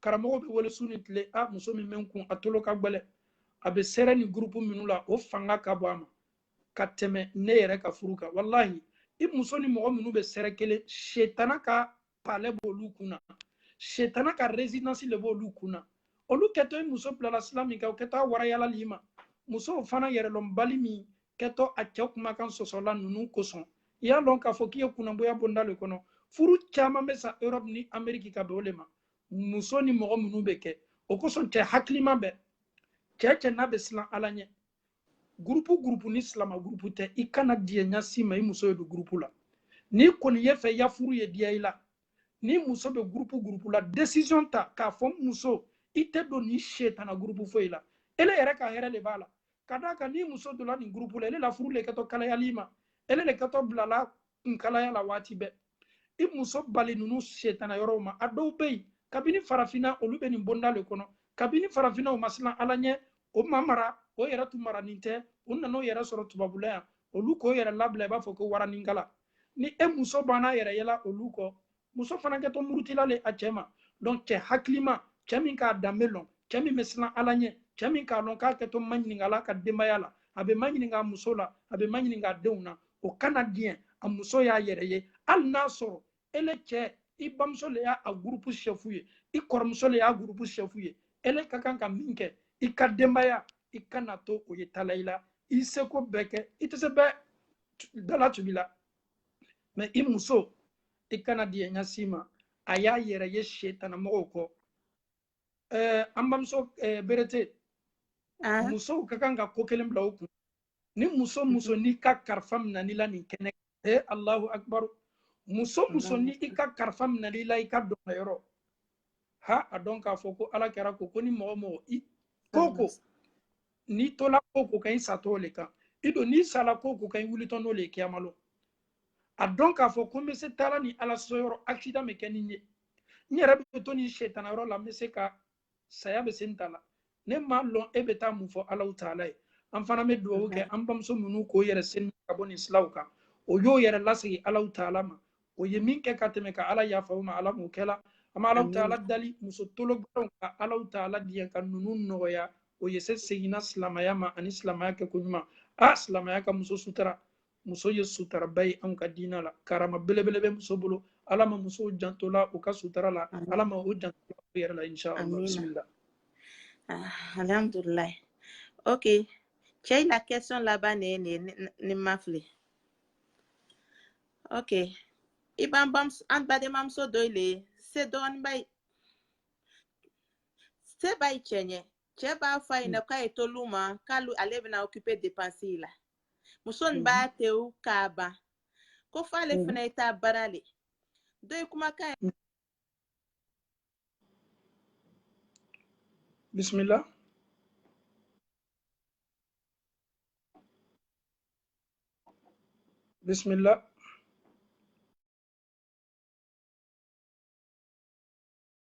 karamɔgɔw bɛ wele su ni tile a muso min bɛ n kun a tolo ka gbɛlɛ a bɛ sɛrɛ ni gurupu minnu la o fanga ka bon a ma ka tɛmɛ ne yɛrɛ ka furu kan walahi i muso ni mɔgɔ minnu bɛ sɛrɛ kelen setana ka palɛ b'olu kun na setana ka residence le b'olu kun na olu kɛtɔ i muso bilala sira min kan o kɛtɔ a warayala le i ma musow fana yɛrɛlɔnbali min kɛtɔ a cɛ kumakan sɔsɔla ninnu kosɔn i y'a lɔn k'a fɔ k'i ye kunnanboya bonda le kɔnɔ furu caman bɛ sa europe ni ameriki ka bɛn o le ma muso ni mɔgɔ minnu bɛ kɛ o kosɔn cɛ hakilima bɛ cɛ cɛ n'a bɛ silan ala ɲɛ gurupu gurupu ni silama gurupu tɛ i kana diɲɛ ɲa si ma i muso ye don gurupu la n'i kɔni y'a fɛ ya furu ye diya i la ni muso bɛ gurupu gurupu la desizɔn ta k'a fɔ muso i tɛ don ni setana gurupu foyi la ele yɛrɛ ka hɛrɛ le b'a la ka d'a kan ni muso donna nin gurupu la ele la furu le kɛtɔ kalayala i ma ele le kɛtɔ bilala kunkalaya la waati bɛɛ i muso bali ninnu setana yɔrɔw ma a dɔw bɛ yen kabini farafinna olu bɛ nin bonda le kɔnɔ kabini farafinna o ma silan ala ɲɛ o ma mara o yɛrɛ tun maranin tɛ u nana o yɛrɛ sɔrɔ tubabula yan olu k'o yɛrɛ labila i b'a fɔ ko waraninkala ni e muso banna a yɛrɛ yela olu kɔ muso fana kɛtɔ murutila le a cɛ ma donc cɛ hakilima cɛ min k'a danbe lɔn cɛ min bɛ silan ala ɲɛ cɛ min k'a lɔn k'a kɛtɔ maɲininkala a ka denbaya la a bɛ maɲininka a muso la a bɛ maɲininka a denw na o kana diɲɛ a muso y'a yɛrɛ ye hali n'a sɔrɔ ele cɛ i bamuso le y'a a gurupu sɛfu ye i kɔrɔmuso le y'a gurupu sɛfu ye ele ka kan ka min kɛ i ka denbaya i kana to o ye tala i la i seko bɛɛ kɛ i tɛ se bɛɛ dala tubi la mɛ i muso i kana diɲɛ ɲa si ma a y'a yɛrɛ ye setanamɔgɔw kɔ ɛɛ an bamuso ɛɛ berete musow ka kan ka ko kelen bila u kun ni muso muso mhm. n'i ka karifa minɛna i la nin kɛnɛ ee alahu akibaru muso muso ni i ka karifa minɛna i la i ka dɔn yɔrɔ ha a dɔn k'a fɔ ko ala kira ko ko ni mɔgɔ mɔgɔ i ko ko n'i tola ko ko kan i satɔ o le kan i don n'i sala ko ko kan i wulitɔ n'o le ye kiyama lon a dɔn k'a fɔ ko n bɛ se taala nin ala sɔsɔ yɔrɔ accident bɛ kɛ ni n ye n yɛrɛ bɛ to nin setana yɔrɔ la n bɛ se ka saya bɛ se n ta la ne m'a lɔn e bɛ taa mun fɔ alahu taala ye an fana bɛ dugawu kɛ an bamuso ninnu k'o yɛrɛ seni ka bɔ nin silaw kan o y'o yɛrɛ lasegin alahu taala ma o ye min kɛ ka tɛmɛ ka ala yafa o ma ala m'o kɛla an bɛ alahu taala dali muso tolobaw ka alahu taala diɲɛ ka ninnu nɔgɔya o ye se seginna silamaya ma ani silamaya kɛ ko ɲuman a silamaya ka muso sutura muso ye sutaraba ye anw ka diina la karama belebele bɛ muso bolo ala ma musow jantola u ka sutara la ala ma u jantola u yɛrɛ la inshallah bisimila ah, alhamdulillah ok cɛ la question laban ne ye nin ye ni n ma fili ok i b'an bamuso an badenmamuso dɔ le se dɔɔnin b'a ye se b'a ye cɛ ɲɛ cɛ b'a fɔ a ɲɛna k'a ye to lu ma k'ale ale bɛna occupé dépense la muso nin b'a te o k'a ban ko f'ale fana ye taa baara le dɔ ye kumakan ye bisimila bisimila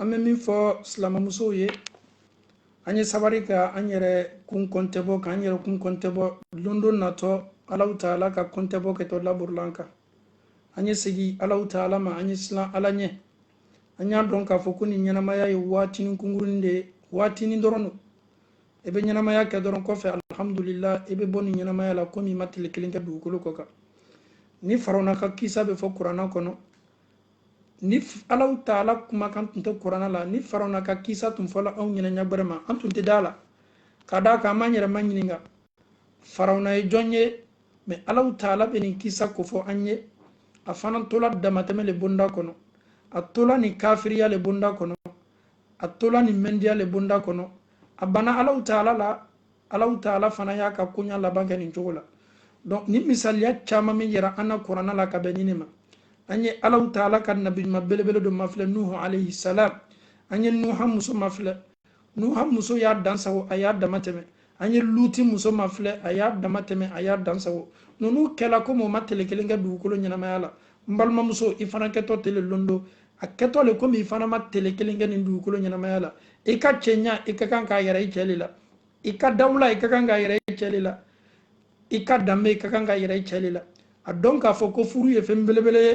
an bɛ min fɔ silamɛmusow ye an ye sabari ka an yɛrɛ kun kɔntɛbɔ k'an yɛrɛ kun kɔntɛbɔ lon dɔ natɔ alaw taala ka kɔntɛbɔ kɛtɔ laborila an kan an ye segin alaw taala ma an ye silan ala ɲɛ an y'a dɔn k'a fɔ ko nin ɲɛnamaya ye waatinin kunkurunin de ye waatinin dɔrɔn don i bɛ ɲɛnamaya kɛ dɔrɔn kɔfɛ alihamudulila i bɛ bɔ nin ɲɛnamaya la komi i ma tile kelen kɛ dugukolo kɔ kan ni farawuna ka kisa bɛ fɔ kurana kɔnɔ ni alaw taala kumakan tun tɛ kurana la ni farawuna ka kisa tun fɔla anw ɲɛna ɲa gbɛrɛ ma an tun tɛ d'a la ka d'a kan an b'an yɛrɛ maɲininka farawuna ye jɔn ye mɛ alaw taala bɛ nin kisa kofɔ an ye a fana tola damatɛmɛ le bonda kɔnɔ a tola nin kafiriya le bonda kɔnɔ a tola nin mɛndiya le bonda kɔnɔ a banna alaw taala la alaw taala fana y'a ka koɲa laban kɛ nin cogo la donc nin misaliya caman min yira an na kurana la ka bɛn nin ne ma an ye alaw taala ka nabiɲuman belebele dɔ mafilɛ nuhu alayhi salam an ye nuha muso mafilɛ nuha muso y'a dansago a y'a dama tɛmɛ an ye luti muso mafilɛ a y'a dama tɛmɛ a y'a dansago ninnu kɛla komi o ma tele kelen kɛ dugukolo ɲɛnamaya la n balimamuso i fana kɛtɔ ten le lon dɔ a kɛtɔ le komi i fana ma tele kelen kɛ nin dugukolo ɲɛnamaya la i ka cɛɲa i ka kan k'a yira i cɛ le la i ka dawula i ka kan k'a yira i cɛ le la i ka danbe i ka kan k'a yira i cɛ le la a dɔn k'a fɔ ko furu ye fɛn belebele ye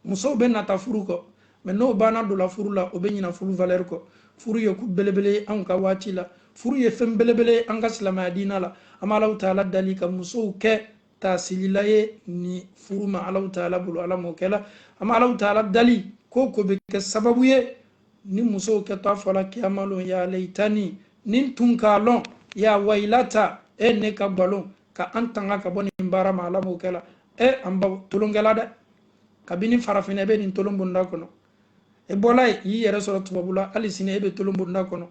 musow bɛ nata furu kɔ mɛ n'o banna donna furu la o bɛ ɲina furu valɛri kɔ furu ye ko belebele ye anw ka waati la furu ye fɛn belebele ye an ka silamaya diina la an bɛ alaw taala dali ka musow kɛ taasilila ye ni furu ma alaw taala bolo ala m'o kɛla an bɛ alaw taala dali ko ko bɛ kɛ sababu ye ni musow kɛtɔ fɔla kiyama lon ya leyitani ni n tun k'a lɔn ya wayilata e ne ka balon ka an tanga ka bɔ nin baara ma ala m'o kɛla e an baw tolonkɛla dɛ kabini farafinna i bɛ nin tolon bonda kɔnɔ e bɔla yen y'i yɛrɛ sɔrɔ tubabula hali sini e bɛ tolon bonda kɔnɔ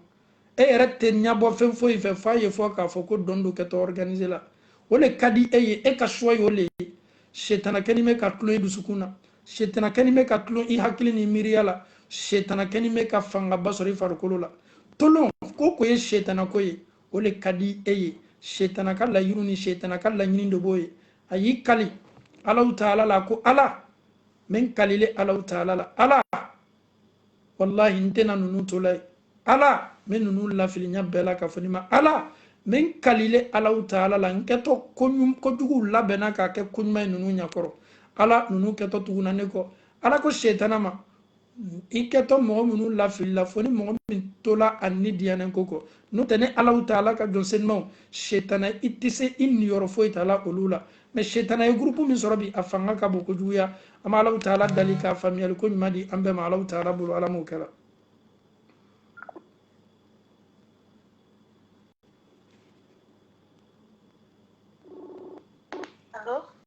e yɛrɛ tɛ ɲɛbɔ fɛn foyi fɛ f'a ye fo k'a fɔ ko dɔn dɔn kɛtɔ organiser la o le ka di e ye e ka choix y'o le ye setana kɛni bɛ ka tulon i dusukun na setana kɛni bɛ ka tulon i hakili ni miiriya la setana kɛni bɛ ka fangaba sɔrɔ i farikolo la tolon ko ko ye setana ko ye o le ka di e ye setana ka layiru ni setana ka laɲini de b'o ye a y'i kali alahu taala la ko ala n bɛ n kal'ile alahu taala la ala walahi n tɛna ninnu to la ye ala n bɛ ninnu lafili ɲa bɛɛ la k'a fɔ ni ma ala n bɛ n kal'ile alahu taala la n kɛtɔ kojuguw labɛnna k'a kɛ koɲuman ye ninnu ɲa kɔrɔ ala ninnu kɛtɔ tuguna ne kɔ ala ko setana ma i kɛtɔ mɔgɔ minnu lafili la fo ni mɔgɔ min tola a ni diyanan ko kɔ n'o tɛ ni alahu taala ka jɔn senumanw setana i tɛ se i niyɔrɔ foyi tala olu la mais setana ye gurupu min sɔrɔ bi a fanga ka bon kojuguya an bɛ alahu taala dali ka faamuyali ko ɲuman di an bɛɛ ma alahu taala bolo ala m'o kɛla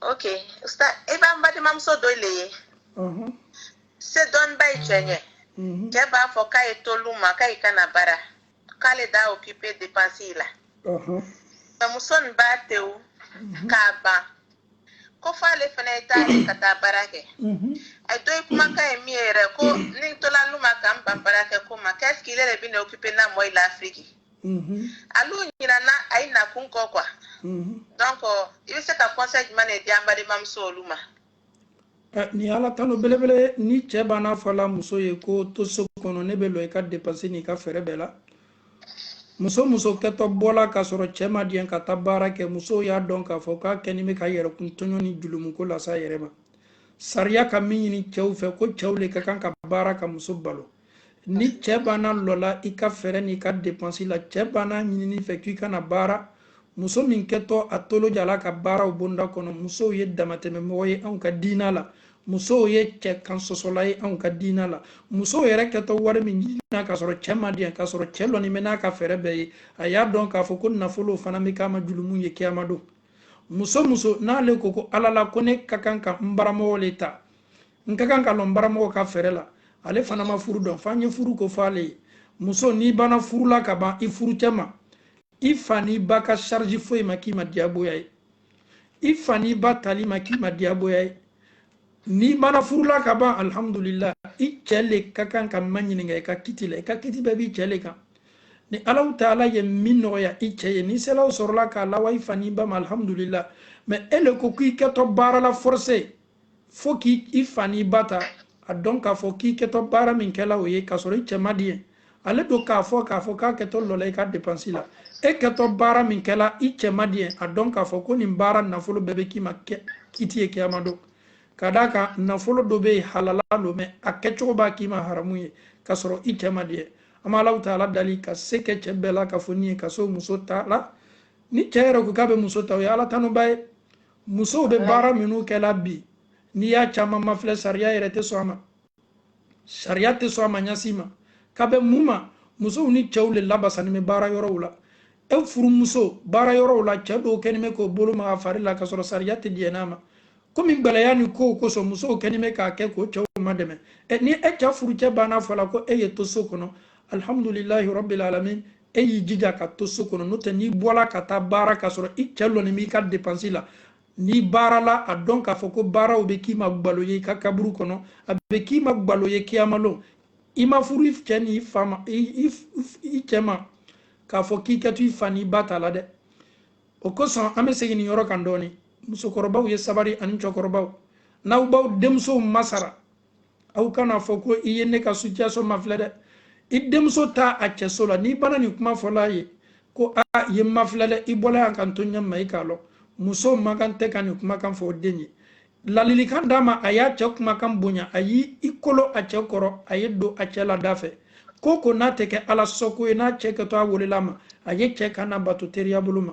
ok ustaz i b'an badenmamuso dɔyi le ye se dɔnniba ye cɛ ɲɛ cɛ b'a fɔ k'ayi to lu ma k'ayi kana baara k'ale de occuper depansi la nka muso nin b'a tewu k'a ban ko f'ale fana ye taa ka taa baara kɛ ayi dɔyi kumakan ye min ye yɛrɛ ko ni n tola lu ma ka n ban baara kɛ ko ma k'est-ce que ile de bɛna occuper n na mɔɔyi la afiriki Mm-hmm. Alu ɲinana ayi nakun kɔ quoi. Mm-hmm. Donc oh, i bɛ se ka conseil jumɛn de di an badenmamuso olu ma. Eh, ni ala talo belebele ni cɛ bann'a fɔla muso ye ko to so kɔnɔ ne bɛ lɔ i ka dépense n'i ka fɛɛrɛ bɛɛ la. muso muso kɛtɔ bɔla k'a sɔrɔ cɛ ma diɲɛ ka taa baara kɛ muso o y'a dɔn k'a fɔ k'a kɛni bɛ k'a yɛrɛkun tɔɲɔ ni julumuko lase a yɛrɛ ma sariya ka min ɲini cɛw fɛ ko cɛw le ka kan ka baara ka muso balo ni cɛ banna lɔla i ka fɛɛrɛ n'i ka depansi la cɛ bann'a ɲinin'i fɛ k'i kana baara muso min kɛtɔ a tolo jala ka baara o bonda kɔnɔ muso o ye damatɛmɛmɔgɔ ye anw ka diina la muso o ye cɛ kansɔsɔla ye anw ka diina la muso o yɛrɛ kɛtɔ wari min ɲinina k'a sɔrɔ cɛ ma diɲɛ k'a sɔrɔ cɛ lɔni bɛ n'a ka fɛɛrɛ bɛɛ ye a y'a dɔn k'a fɔ ko nafolo o fana bɛ k'a ma julumu ye kiyama don muso muso n'ale ko ko ala la ko ne ka kan ka n bara mɔgɔ le ta n ka kan ka lɔ n baramɔgɔ ka fɛɛrɛ la ale fana ma furu dɔn f'an ye furu ko fɔ ale ye muso n'i banna furula ka ban i furucɛ ma i fa n'i ba ka charge foyi ma k'i ma diyagoya ye i fa n'i ba tali ma k'i ma diyagoya ye n'i mana furula ka ban alhamdulillah i cɛ le ka kan ka ma ɲininka i ka kiti la i ka kiti bɛɛ b'i cɛ le kan ni alahu taala ye min nɔgɔya i cɛ ye ni selaw sɔrɔla k'a lawa i fa n'i ba ma alhamdulillah mɛ e le ko k'i kɛtɔ baara la forcé fo k'i fa n'i ba ta a dɔn k'a fɔ k'i kɛtɔ baara min kɛla o ye k'a sɔrɔ i cɛ ma diɲɛ ale don k'a fɔ k'a fɔ k'a kɛtɔ lɔla i ka depansi la e kɛtɔ baara min kɛla i cɛ ma diɲɛ a dɔn k'a fɔ ko nin baara nafolo bɛɛ bɛ k'i ma kiti ye kiyama don ka d'a kan nafolo dɔ bɛ yen halala don mɛ a kɛcogo b'a k'i ma haramu ye k'a sɔrɔ i cɛ ma diɲɛ an b'a alahu taala dali ka se kɛ cɛ bɛɛ la k'a fɔ nin ye ka so muso ta la ni cɛ yɛrɛ ko k'a bɛ muso ta o ye ala tanuba ye musow bɛ baara minnu kɛla bi n'i y'a caman mafilɛ sariya yɛrɛ tɛ sɔn a ma sariya tɛ sɔn a ma a si ma ka bɛn mun ma musow ni cɛw le labasanni bɛ baara yɔrɔw la e furumuso baara yɔrɔw la cɛ dɔw kɛlen bɛ k'o bolo ma a fari la kasɔrɔ sariya tɛ diɲɛ n'a ma komi gbɛlɛya ni kow kosɔn musow kɛlen bɛ k'a kɛ k'o cɛw madɛmɛ ni e cɛ furucɛ bann'a fɔla ko e ye to so kɔnɔ alihamudulilahi rabil alamin e y'i jija ka to so kɔnɔ n'o tɛ n'i bɔla ka taa baara k'a sɔrɔ i cɛ lɔni b'i ka depansi la n'i baarala a dɔn k'a fɔ ko baaraw bɛ k'i ma gbalo ye i ka kaburu kɔnɔ a bɛ k'i ma gbalo ye kiyamalon i ma furu i cɛ ni i fa ma i cɛ ma k'a fɔ k'i kɛtɔ i fa n'i ba tala dɛ o kosɔn an bɛ segin nin yɔrɔ kan dɔɔnin musokɔrɔbaw ye sabari ani cɛkɔrɔbaw n'aw b'aw denmusow masara aw kana fɔ ko i ye ne ka situation mafilɛ dɛ i denmuso taa cɛso la n'i banna nin kuma fɔl'a ye ko a ye mafilɛ dɛ i bɔla yan ka n to ɲɛ ma i k'a lɔn muso man kan tɛ ka nin kumakan fɔ o den ye ladilikan d'a ma a y'a cɛ kumakan bonya a y'i kolo a cɛ kɔrɔ a ye don a cɛ la da fɛ ko o ko n'a tɛ kɛ ala sɔko ye n'a cɛ kɛtɔ a welel'a ma a ye cɛ kan nabato teriya bolo ma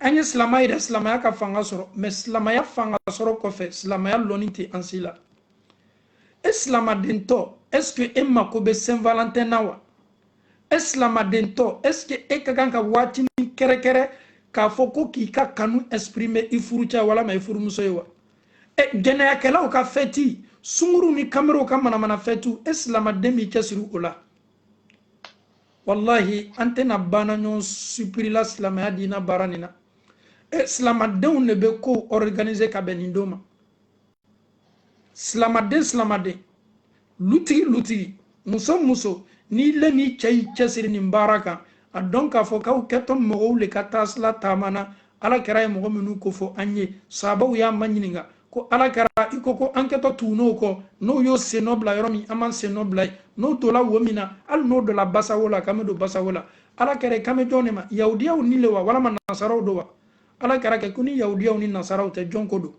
an ye silama yira silamaya ka fanga sɔrɔ mɛ silamaya fanga sɔrɔ kɔfɛ silamaya lɔnni tɛ an si la e silamadentɔ est ce que e mako bɛ saint valentin na wa e silamadentɔ est ce que e ka kan ka waatinin kɛrɛkɛrɛ k'a fɔ ko k'i ka kanu exprimer i furucɛ walama i furumuso ye wa e jɛnɛyakɛlaw ka fɛti sunguruw ni kamerenw ka manamana fɛtiw e silamaden b'i cɛsiri o la walahi an tɛna baana ɲɔgɔn supirila silamaya diina baara nin na e silamadenw de bɛ kow organiser ka bɛn nin don ma silamaden silamaden lutigi lutigi muso muso n'i le n'i cɛ y'i cɛsiri nin baara kan a dɔn k'a fɔ k'aw kɛtɔ mɔgɔw le ka taasila taama na ala kira ye mɔgɔ minnu kofɔ an ye sabaw y'a maɲininka ko ala kira i ko ko an kɛtɔ tugun'o kɔ n'o y'o sennɔ bila yɔrɔ min an b'an sennɔ bila yen n'o donna wo min na hali n'o donna basawo la k'an bɛ don basawo la ala kira i kan bɛ jɔn de ma yahudiyaw ni le wa walama nasaraw don wa ala kira kɛ ko ni yahudiyaw ni nasaraw tɛ jɔn ko don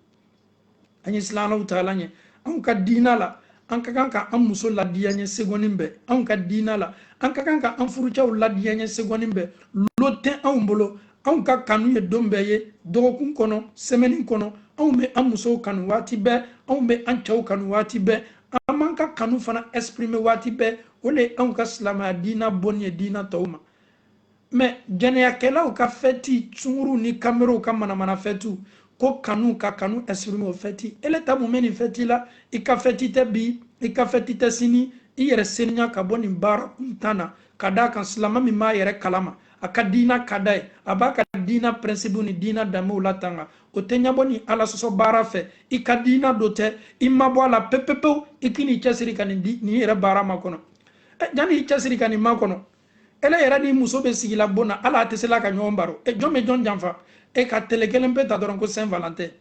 an ye silan alahu taala ɲɛ anw ka diina la an ka kan ka an muso ladiyaɲɛ segɔnin bɛɛ anw ka diina la an ka kan ka an furucɛw ladiyaɲɛ segɔnin bɛɛ lon tɛ anw bolo anw ka kanu ye don bɛɛ ye dɔgɔkun kɔnɔ sɛmɛni kɔnɔ anw bɛ an musow kanu waati bɛɛ anw bɛ an cɛw kanu waati bɛɛ an b'an ka kanu fana exprime waati bɛɛ o le ye anw ka silamɛya diina bɔnin ye diina tɔw ma mɛ jɛnɛyakɛlaw ka fɛti sunguruw ni kamelenw ka manamana fɛtiw ko kanu ka kanu exprime o fɛti ele ta mun bɛ nin fɛti la i ka fɛti tɛ bi i ka fɛti tɛ sini i yɛrɛ seniya ka bɔ nin baara kuntan na ka d'a kan silama min b'a yɛrɛ kalama a ka diina ka d'a ye a b'a ka diina pɛrɛnsipuw ni diina danbew latanga o tɛ ɲɛbɔ nin ala sɔsɔ baara fɛ i ka diina do tɛ i mabɔ a la pepepewu i k'i n'i cɛsiri ka nin yɛrɛ baara makɔnɔ eh, janni i cɛsiri ka nin makɔnɔ ele yɛrɛ ni muso bɛ sigila bon na ala a tɛ sela ka ɲɔgɔn baro e jɔn bɛ jɔn janfa e ka tele kelenpe ta dɔrɔn ko saint valentin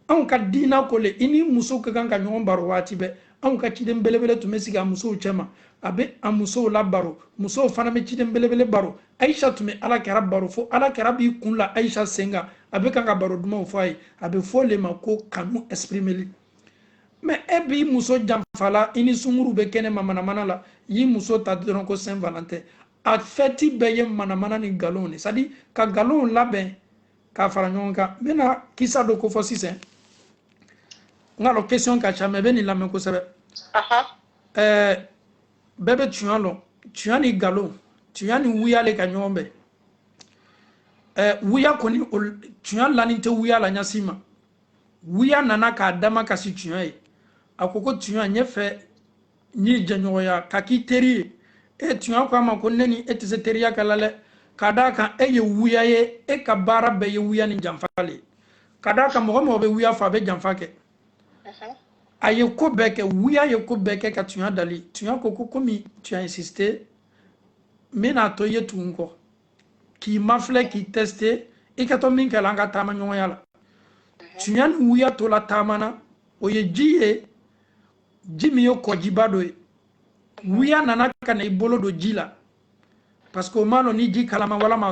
anw ka diina ko le i ni muso ka kan ka ɲɔgɔn baro waati bɛɛ anw ka ciden belebele tun bɛ sigi a musow cɛma a bɛ a musow labaro musow fana bɛ ciden belebele baro ayisa tun bɛ ala kira baro fo ala kira b'i kun la ayisa sen kan a bɛ kan ka baro dumanw fɔ a ye a bɛ f'o le ma ko kanu esprimeli mɛ e b'i muso janfala i ni sunguru bɛ kɛnɛma manamana la y'i muso ta dɔrɔn ko saint valentin a fɛti bɛɛ ye manamana ni nkalonw de c'est-à-dire ka nkalonw labɛn k'a fara ɲɔgɔn kan n bɛna kisa dɔ kofɔ sisan n k'a dɔn question ka ca mɛ bɛ nin lamɛn kosɛbɛ ɛɛ bɛɛ bɛ tuɲa lɔn tuɲa ni nkalon tuɲa ni wuya le ka ɲɔgɔn bɛn ɛɛ wuya kɔni tuɲa lani tɛ wuya la ɲa si ma wuya nana k'a dama kasi tuɲa ye a ko ko tuɲa n y'a fɛ n'i jɛɲɔgɔnya ka k'i teri ye e tuɲa ko a ma ko ne ni e tɛ se teriya kɛ la dɛ ka d'a kan e ye wuya ye e ka baara bɛɛ ye wuya ni janfa le ye ka d'a kan mɔgɔ mɔgɔ bɛ wuya fɔ a bɛ janfa kɛ a ye ko bɛɛ kɛ wuya ye ko bɛɛ kɛ ka tuɲa dali tuɲa ko ko komi tuɲa insiste n bɛna to i ye tugu n kɔ k'i mafilɛ k'i teste i kɛtɔ min kɛla an ka taamaɲɔgɔnya la tuɲa ni wuya tola taama na o ye ji ye ji min ye kɔjiba dɔ ye wuya nana ka na i bolo don ji la parce que o m'a lɔn ni ji kalama walama